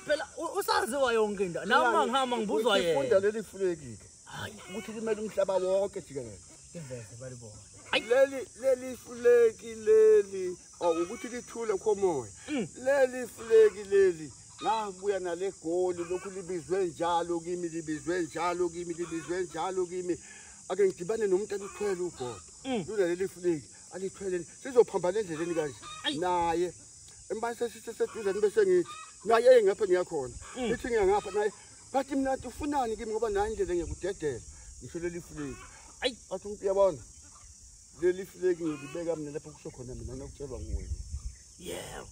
Phela usaziwa yonke into. Nami mangihamba ngibuzwa yena. Ufunda leli fuleki. Hayi, ukuthi limele umhlaba wonke jikelele. Iveze balibona. Leli leli fuleki leli awukuthi oh, lithule khomoya. Mm. Leli fuleki leli ngabuya nale goli lokhu libizwe njalo kimi libizwe njalo kimi libizwe njalo kimi. Ake ngidibane nomuntu alithwele ugodo. Mm. Lona leli fuleki alithwele sizophambana endleleni kanje. Naye emba sesiseseduze nibe sengithi naye engapha ngiyakhona mm. ngithi ngiyangapha naye bathi mina nti ufunani kimi ngoba naye indlela ngiyakudedela ngisho leli fleki ayi bathi umuntu uyabona leli fleki ngilibeka mina lapho kusho khona mina nokutshelwa nguwena yebo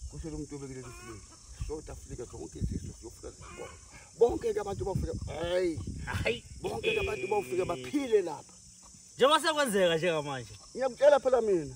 kusho lo muntu obeke leli fleki soda fleka zonke iziso ziyofika zibona bonke-ke abantu bafike hayi hayi bonke-ke abantu bafike baphile lapha njengoba sekwenzeka njengamanje ngiyakutshela phela mina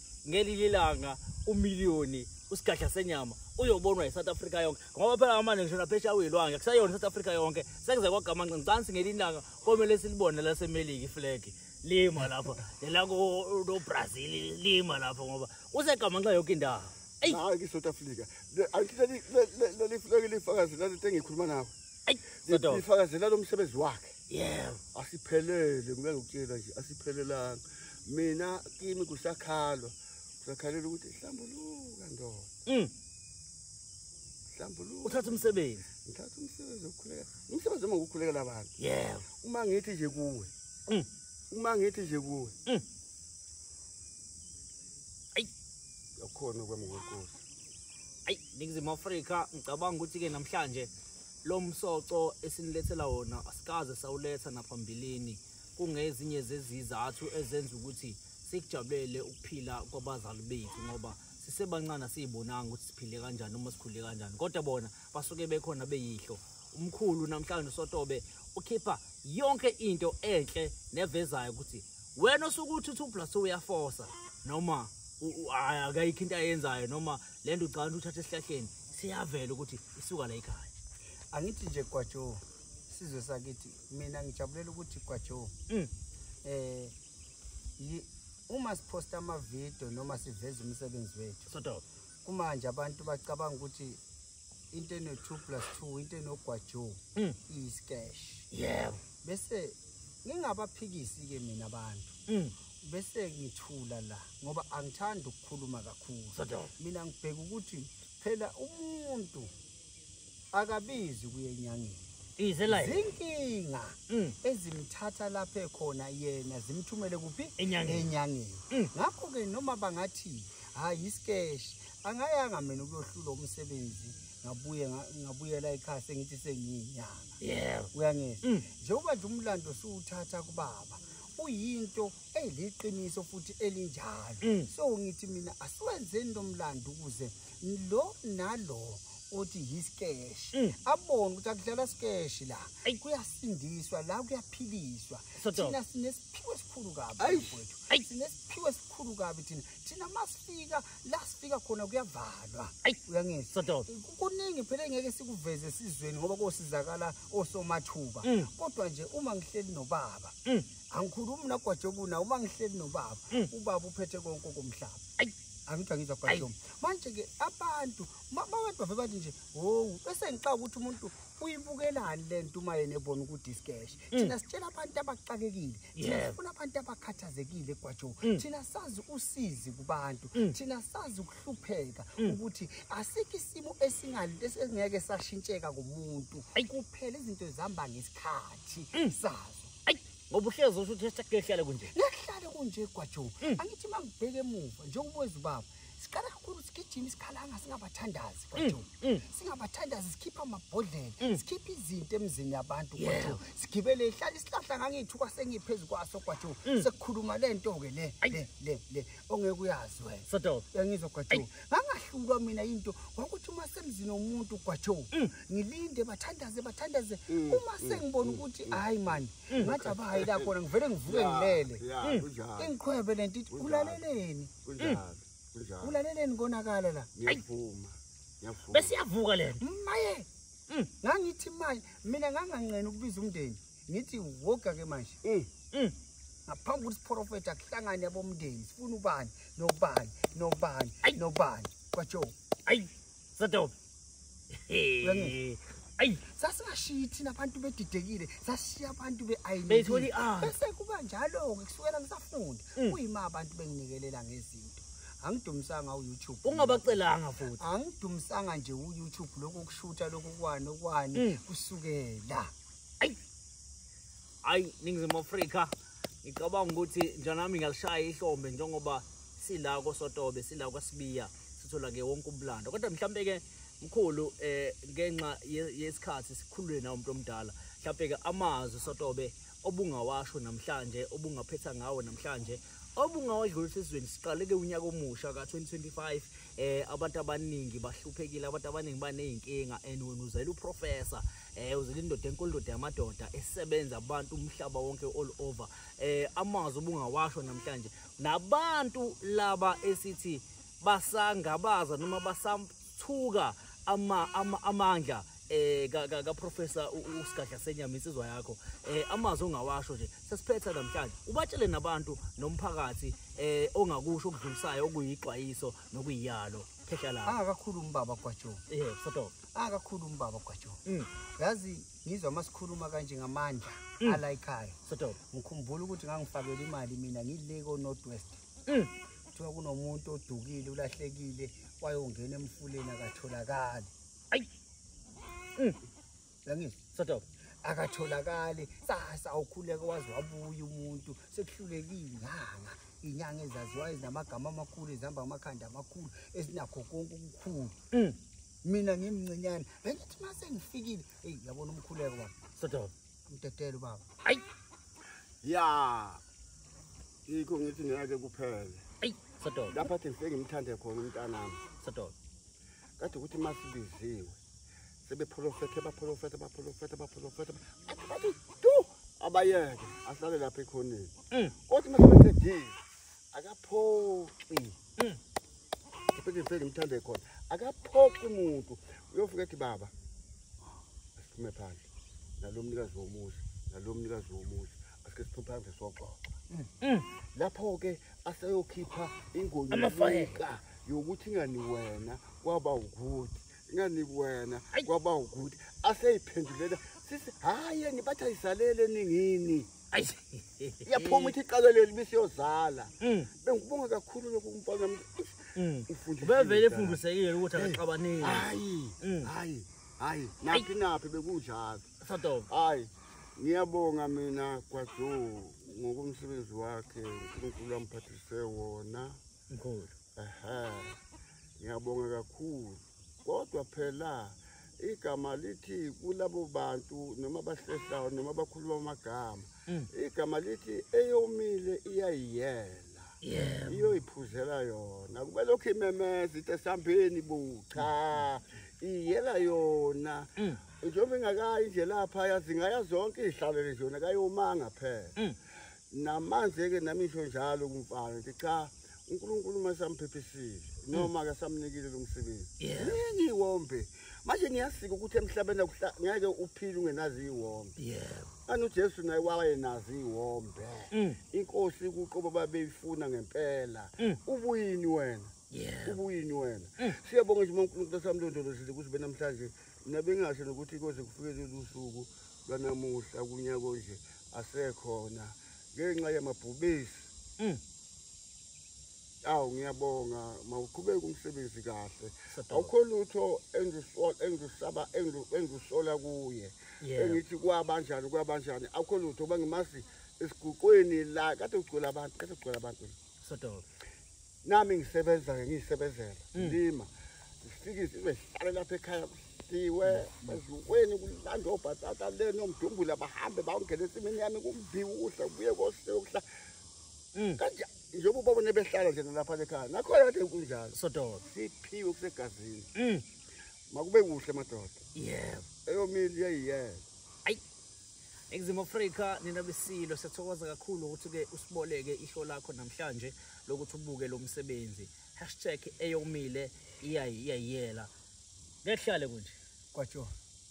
ngelinye ilanga umiliyoni usigadla senyama uyobonwa yi-south africa yonke ngoba phela amane ngisho naphesha uyilwange kusayona i-south africa yonke sekuze kwagamanca ngicansi ngelinye ilanga komele silibone lasemelika iflegi lima lapha nelakobrazil lima lapha ngoba usegamanxa yonke indawo eyi hayi ki-south africa angithi leli fleki lifakazi lalento engikhuluma nawo sifakazela lo msebenzi wakhe yebo asiphelele ngeke ngikutshela nje asiphelelanga mina kimi kusakhalwa kusakhalela ukuthi hlambuluka ndoda mm. hlambuluka uthatha umsebenzi ngithatha umsebenzi wokukhuleka umsebenzi uma ngokukhulekela abantu yebo uma ngithi nje kuwe mm. uma ngithi nje kuwe mm. yakhona kwemngokolo ayi ningizimu afrika ngicabanga ukuthi-ke namhlanje lo msoco esinilethela wona asikaze sawuletha naphambilini kungezinye zezizathu ezenza ukuthi sikujabulele ukuphila kwabazali bethu ngoba sisebancane asiyibonanga ukuthi siphile kanjani uma sikhule kanjani kodwa bona basuke bekhona beyihlo umkhulu namhlanje usotobe ukhipha yonke into enhle nevezayo ukuthi wena osuke uthi two plus two uyafosa noma hayi akayikho into ayenzayo noma le nto ucabanga ukuthi uthatha esihlahleni siyavela ukuthi isuka la ekhaya angithi nje gwajo sizwe sakithi mina ngijabulela ukuthi gwajo um mm. eh, uma siphosta amavidiyo noma siveza umsebenzi wethu kumanje abantu bacabanga ukuthi into eno 2 plus 2 into enogwajo mm. iskash yebo bese ngingabaphikisi ke mina abantu mm. bese ngithula la ngoba angithandi ukukhuluma kakhulu mina ngibheka ukuthi phela umuntu akabizi kuyenyangeni ize la zinkinga mm. ezimthatha lapha ekhona yena zimthumele kuphi enyangeni mm. ngakho ke noma bangathi hayi iskesh angayanga mina ukuyohlula umsebenzi ngabuye ngabuyela ekhaya sengithi sengiyinyanga yebo uyangizwa mm. njengoba nje umlando siwuthatha kubaba uyinto eliqiniso futhi elinjalo mm. so ngithi mina asiwenzeni lo mlando ukuze lo nalo othi yiskesh mm. abone ukuthi akudlala skesh la kuyasindiswa la kuyaphiliswa thina sinesiphiwo esikhulu kabi mfowethu sinesiphiwo esikhulu kabi thina thina masifika la sifika khona kuyavalwa ayi uyangizwa kuningi phela engeke sikuveze esizweni ngoba kosizakala osomathuba mm. kodwa nje uma ngihleli nobaba mm. angikhulumi nagwajobuna uma ngihleli nobaba mm. ubaba uphethe konke komhlaba ayi angithi angizwa kwashoma manje-ke abantu babantu bave bathi nje howu bese ngixaka ukuthi umuntu uyibukelani le nto uma yena ebona ukuthi isikeshe mm. thina sitshela abantu abaxakekile thina sifuna abantu abakhathazekile kwajo mm. thina sazi usizi kubantu mm. thina sazi ukuhlupheka ukuthi asikho isimo esingeke sashintsheka kumuntu kuphela izinto zihamba ngesikhathi sazo ngoba uhlezi usho ukuthi sekuyohlale kunje ngehlale kunje kwajo angithi uma ngibheke emuva njengoba wezubaba siqala kakhulu sigijima isikhalanga singabathandazi mm, kodwa mm. singabathandazi sikhipha amabhodlela mm. sikhipha izinto emzini yabantu kodwa sigibele ihlala isihlahla ngangithu kwasengiphezu kwaso kodwa sekukhuluma le nto ke le le le le ongeke uyazi wena sodo yangizwa kodwa ngangahlulwa mina into ngokuthi uma semzini omuntu kodwa ngilinde bathandaze bathandaze uma sengibona ukuthi hayi man ngathi abahayi la khona ngivele ngivuke ngilele ingiqhwebe lento ithi ulaleleni kunjalo kunjalo ulaleleni konakala la ngiyavuma ngiyavuma bese yavuka lena maye mm. ngangithi manje mina nganganqena ukubiza umndeni ngithi woga ke manje mm. Mm. ngaphambi ukuthi siprofetha kuhlangane abomndeni sifuna ubani nobani nobani nobani kwatsho ayi sadobe ayi sasingashiyi thina abantu bedidekile sashiya abantu beayinile ah. bese kuba njalo-ke kusukela ngisafunda mm. kuyima abantu benginikelela ngezinto angidumisanga uyoutube ungabacelanga futhi angidumisanga nje uyoutube lokhu kushutha lokhu kwani okwani mm. kusukela ayi hayi ningizimu afrika ngicabanga ukuthi njanami ngalishaya ihlombe njengoba sila kosotobe sila kwasibiya sithola ke wonke umlando kodwa mhlampe ke mkhulu eh ngenxa yesikhathi sikhulule na umuntu omdala mhlampe ke amazwi sotobe obungawasho namhlanje obungaphetha ngawo namhlanje obungawadlulisa isizweni siqaleke unyaka omusha ka-2025 eh abantu abaningi bahluphekile abantu abaningi baney'nkinga and wena uzela uprofessor eh uzile indoda enkulu indoda yamadoda esebenza abantu umhlaba wonke all over eh amazwi ubungawasho namhlanje nabantu laba esithi basangabaza noma basathuka ama amandla eh ka ka professor usigadla senyama insizwa yakho eh amazwi ongawasho nje sesiphetha namhlanje ubatshele nabantu nomphakathi eh ongakusho okudlulisayo okuyixwayiso nokuyiyalo phehla la akakhulumi ah, baba kwajo eh sodoka akakhulu umbaba gwajo mm. yazi ngizwa uma sikhuluma kanje ngamandla mm. alayikhaya ngikhumbula ukuthi ngangifakela imali mina ngile ko-north west mm. kuthiwa kunomuntu odukile ulahlekile wayongena emfuleni akatholakali ayi yangizwa akatholakali sasa ukhuleke waze wabuya umuntu sekuhluleke iy'nyanga iy'nyanga ezaziwayo ezinamagama amakhulu ezihamba amakhanda amakhulu ezinakho konke okukhulu mina ngimncinyane bengithi uma sengifikile eyi yabona umkhuleko baba sodoba umdedele ubaba ayi ya yikho ngithi ngeke kuphele ayi sodoba lapha athi ngifike ngimthande khona umntanami sodoba kade ukuthi uma sibiziwe sebepholofethe bapholofethe bapholofethe bapholofethe athi tu abayeke ahlale lapha ekhoneni mm. kodwa uma sebeqedile akaphoxi mm. ngifike ngifike ngimthande khona akaphoxi umuntu uyofika ethi baba asiphume phandle nalo mnikazi womuzi nalo mnikazi womuzi asike siphume phandle soxoxa mm. mm. lapho-ke aseyokhipha ingonyika yokuthi ingani wena kwaba ukuthi ngani wena kwaba ukuthi aseyiphendulela sisi hayi yeni bathi ayisalele ningini iyaphuma ithi iqalo leli bisiyozala mm. bengikubonga kakhulu lokhu kumfana mm. ubevele efundisekile ukuthi akaxabanile hayi mm. hayi hayi naphi naphi bekunjalo hayi ngiyabonga mina kwazo ngokomsebenzi wakhe unkulunkulu amphathise wona mkhulu aha ngiyabonga kakhulu kodwa phela igama lithi kulabo bantu noma abahlehlayo noma abakhuluma amagama mm. igama lithi eyomile iyayiyela iyoyiphuzela yona kube lokhu imemeza ithi esambeni bo cha iyela yona mm. njengoba ingakayi nje lapha yazingayazi zonke iy'hlalele zona kayomanga phela mm. Namanje ke nami ngisho njalo kumfana ngithi cha uNkulunkulu masamphephisile noma hmm. akasamnikile lo msebenzi. Yini iwombe? Manje niyasika ukuthi emhlabeni ngeke uphile ungenazi iwombe. Yebo. Anu Jesu naye wayenazi iwombe. Hmm. Inkosi kuqobo babeyifuna ngempela. Hmm. Ubuyini wena? ubuyinywana siyabonga nje uma unkulunkulu asamlondolozile ukuthi benamhlanje mina bengasho nokuthi koze kufike lolu suku lwanamuhla kunyako nje asekhona ngenxa yamabhubesi mm. awu ngiyabonga mawuqhubeke umsebenzi kahle awukho lutho engizusaba engizusola kuye engithi kwabanjani kwabanjani awukho lutho uba ngimazi esiguqweni la kade ugcwele abantu kade ugcwele abantu sodobe nami ngisebenza-ke ngiyisebenzela mm. lima ngifikise ibehlale lapha ekhaya kusiwe baziweni kulandwa obhatata leni omdumbula bahambe bawungena ensimini yami kumbiwuhle kubuye koseyokuhla mm. kanja njengoba ubabone behlala nje nalapha lekhaya nakhona kade kunjalo sododa siphiwe kusegazini mm. makube kuhle madoda yebo eyomili yeyiyela Exim Africa nina besilo siyathokoza kakhulu ukuthi ke usiboleke ihlo lakho namhlanje lokuthi ubuke lo msebenzi hashtag eyomile iyayiyela ngehlale kunje kwatsho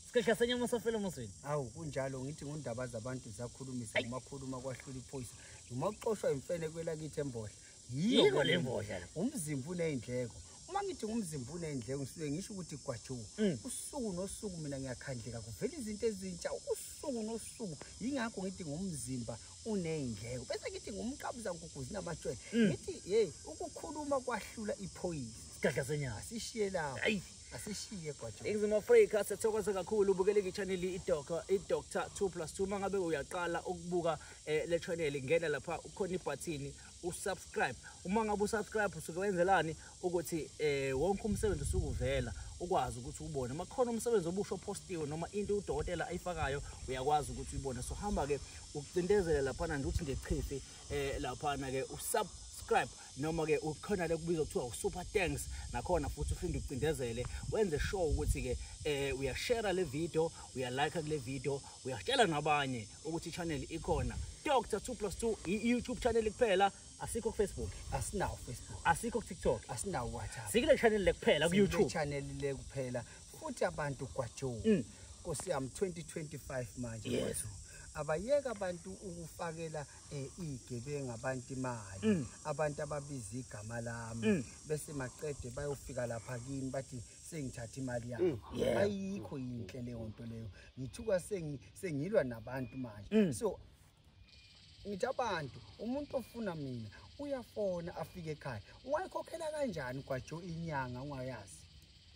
sikhehla senyama safela emosweni awu kunjalo ngithi ngundaba zabantu zakhulumisa kumakhuluma kwahlula iphoyisa noma uxoshwa imfene kwelakithi embodla yiko le mbodlela umzimba uney'ndleko uma ngithi ngumzimba uney'ndleko ngisuke ngisho ukuthi gwajuka mm. usuku nosuku mina ngiyakhandleka kuvela izinto ezintsha usuku nosuku yingakho ngithi ngumzimba uney'ndleko bese ngithi ngumqabuza nkuguzi namatshwele mm. ngithi yeyi ukukhuluma kwahlula iphoyisa isidadla senyanga asishiye lapho asishiye gwajo ingizima afrika siyathokoza kakhulu ubukeleka ichaneli idoctor idoctor 2 plus 2 uma ngabe uyaqala ukubuka eh, le chaneli ngena lapha ukhona ibhathini usubscribe uma ngabe usubscribe usuke wenzelani ukuthi eh wonke umsebenzi usukuvela ukwazi ukuthi ubone uma khona umsebenzi obusho postiwe noma into udokotela ayifakayo uyakwazi ukuthi uyibone so hamba ke ucindezele lapha na ukuthi ngechifi eh lapha na ke usub subscribe noma ke ukhona le kubiza kuthiwa usuper thanks nakhona futhi uphinde ucindezele wenze sure ukuthi ke eh uyashare le video uyalike kule video uyatshela nabanye ukuthi channel ikhona Dr 2 plus 2 i-YouTube channel kuphela asikho ku Facebook asinawo Facebook asikho ku TikTok asinawo WhatsApp sikile channel le kuphela ku YouTube channel le kuphela futhi abantu kwajo mm. Nkosi yami 2025 manje yes. abayeka abantu ukufakela eh, igebengu abantu imali mm. abantu ababiza igama lami mm. bese maqede bayofika lapha kimi bathi sengithatha imali yami mm. ayikho yinhle leyo nto leyo ngithuka sengi sengilwa nabantu manje mm. so ngithi abantu umuntu ofuna mina uyafona afike ekhaya ungayikhokhela kanjani kwajo inyanga ungayazi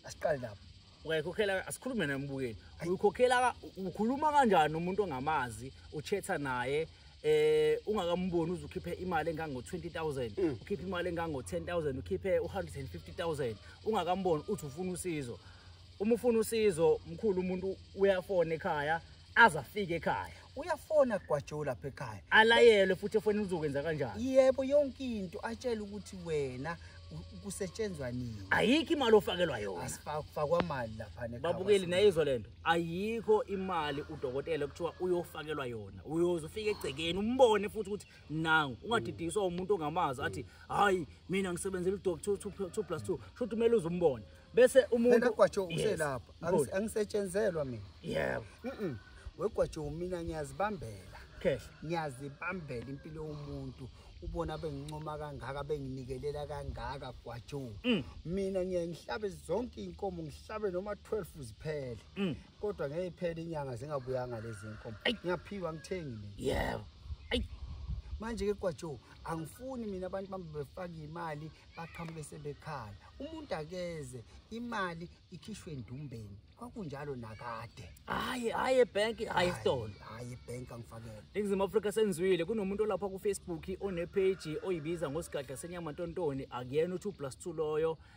asiqale lapho ungayikhokhela asikhulume naye mbukeli uyikhokhela ukhuluma kanjani umuntu ongamazi uchetha naye eh ungakamboni uzukhiphe imali engango 20000 mm. ukhiphe imali engango 10000 ukhiphe 150000 ungakamboni uthi ufuna usizo uma ufuna usizo mkhulu umuntu uyafona ekhaya aze afike ekhaya uyafona kugwajowu lapha ekhaya alayelwe futhi efonini uzokwenza kanjani yebo yonke into atshele ukuthi wena kusetshenzwa nini ayikho imali ofakelwa yona asifakwa mali lapha ne babukeli nayizwa lento ayikho imali udokotela kuthiwa uyofakelwa yona uyoze ufike egcekeni umbone futhi ukuthi nangu ungadidiswa umuntu ongamazi athi hayi mina ngisebenzela udoctor 2 plus 2 sho ukuthi kumele uze umbone bese umuntu egwajo uselapha angisetshenzelwa mina yebo mhm wegwajo mina ngiyazibambela khehla ngiyazibambela impilo yomuntu ubona bengincoma kangaka benginikelela kangaka gwajo mm. mina ngiyayihlabe zonke inkomo ngihlabe noma 12 ziphele mm. kodwa ngeke iphele inyanga zingabuyanga lezi nkomo ngiyaphiwa ngithengi mina yebo ayi manje ke kwajo angifuni mina abantu bami befaka imali baqhamuke sebekhala umuntu akeze imali ikhishwe endumbeni kwakunjalo nakade hayi hayi ebank hayi stolo hayi ebank angifakele Ngizimu Africa senzwile kunomuntu olapha ku Facebook onepage oyibiza ngosigadla senyama ntontoni akuyena uthi u+2 loyo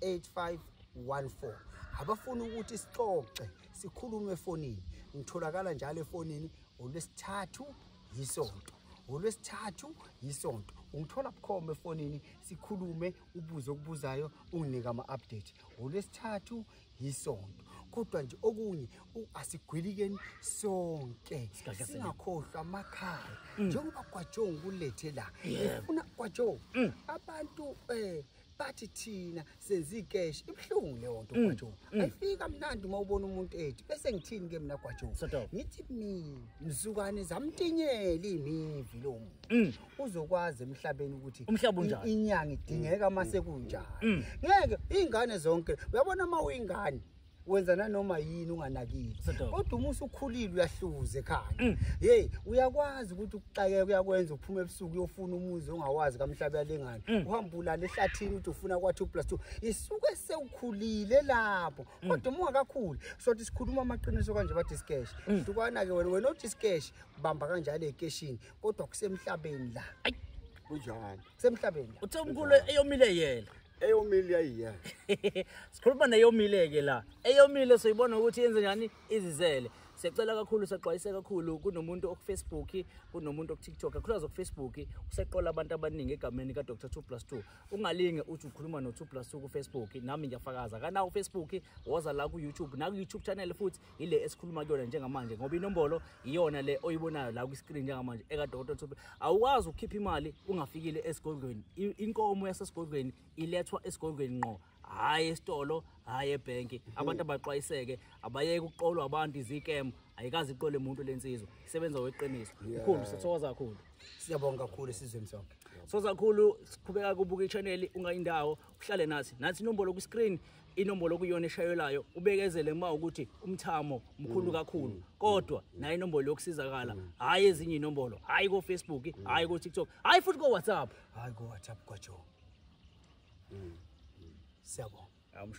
8514 abafuna ukuthi sixoxe sikhulume efonini ngitholakala njalo efonini olwesithathu yisonto ngolwesithathu yisonto ungithola bukhoma efonini sikhulume ubuze okubuzayo unginike ama-update ngolwesithathu yisonto kodwa nje okunye asigwilikeni sonke singakhohlwa amakhaya mm. njengoba kwajonga ukulethe la ifuna kwajonga mm. abantu um bathi thina senza icash ibuhlungu leyo nto mm, gwajo mm. ayifika mnandi uma ubona umuntu ethi bese ngithini ke mina gwajo ngithi mina mzukane zamtinyela imivi lo muntu mm. uzokwazi emhlabeni ukuthi umhlaba unjani inyanga idingeka uma sekunjani ngeke ingane zonke uyabona uma uyingane wenza nanoma yini unganakile kodwa uma usukhulile uyahluza ekhaya mm. hey uyakwazi ukuthi ukuxakeka uyakwenza uphuma ebusuku uyofuna umuzi ongawazi kamhlaba yalengane mm. uhamba ulala ehlathini ukuthi ufuna kwa 2 plus 2 isuke sewukhulile lapho mm. kodwa uma ungakakhuli sothi sikhuluma amaqiniso kanje bathi sikesh hlukana ke wena wena othi sikesh bamba kanjalo ekeshini kodwa kusemhlabeni la kunjani kusemhlabeni uthe umkhulu eyomile yena eyomile yayiya sikhuluma neyomile-ke la eyomile soyibona ukuthi yenze njani izizele siyacela kakhulu sexwayise kakhulu kunomuntu okufacebook kunomuntu okutiktok kakhulukazi okufacebook useqola abantu abaningi egameni ka-dr two plus two ungalinge uthi ukhuluma no-two plus two kufacebook nami ngiyafakaza kanawo ufacebook woza la ku-youtube naku-youtube channel futhi ile esikhuluma kuyona njengamanje ngoba inombolo iyona le oyibonayo la kwi-screen njengamanje ekadokotela Thuphe awukwazi ukukhipha imali ungafikile esigodlweni inkomo yasesigodlweni ilethwa esigodlweni ngqo hhayi esitolo hhayi ebhenki mhm. abantu abaxwayiseke abayeke ukuqolwa abantu izikemu ayikazi iqole muntu le nsizwa isebenza weqiniso mkhulu sithokoza kakhulu siyabonga kakhulu esizweni sonke soza kakhulu siqhubeka kubuka ichaneli ungayindawo uhlale nathi nathi inombolo kwi-screen inombolo okuyona eshayelayo ubekezele uma ukuthi umthamo mkhulu mm, kakhulu mm, kodwa mm, naye inombolo yokusizakala hhayi ezinye iy'nombolo hhayi kofacebook hhayi kotiktok hhayi futhi kowhatsapp hhayi kowhatsapp kwajo siyabonga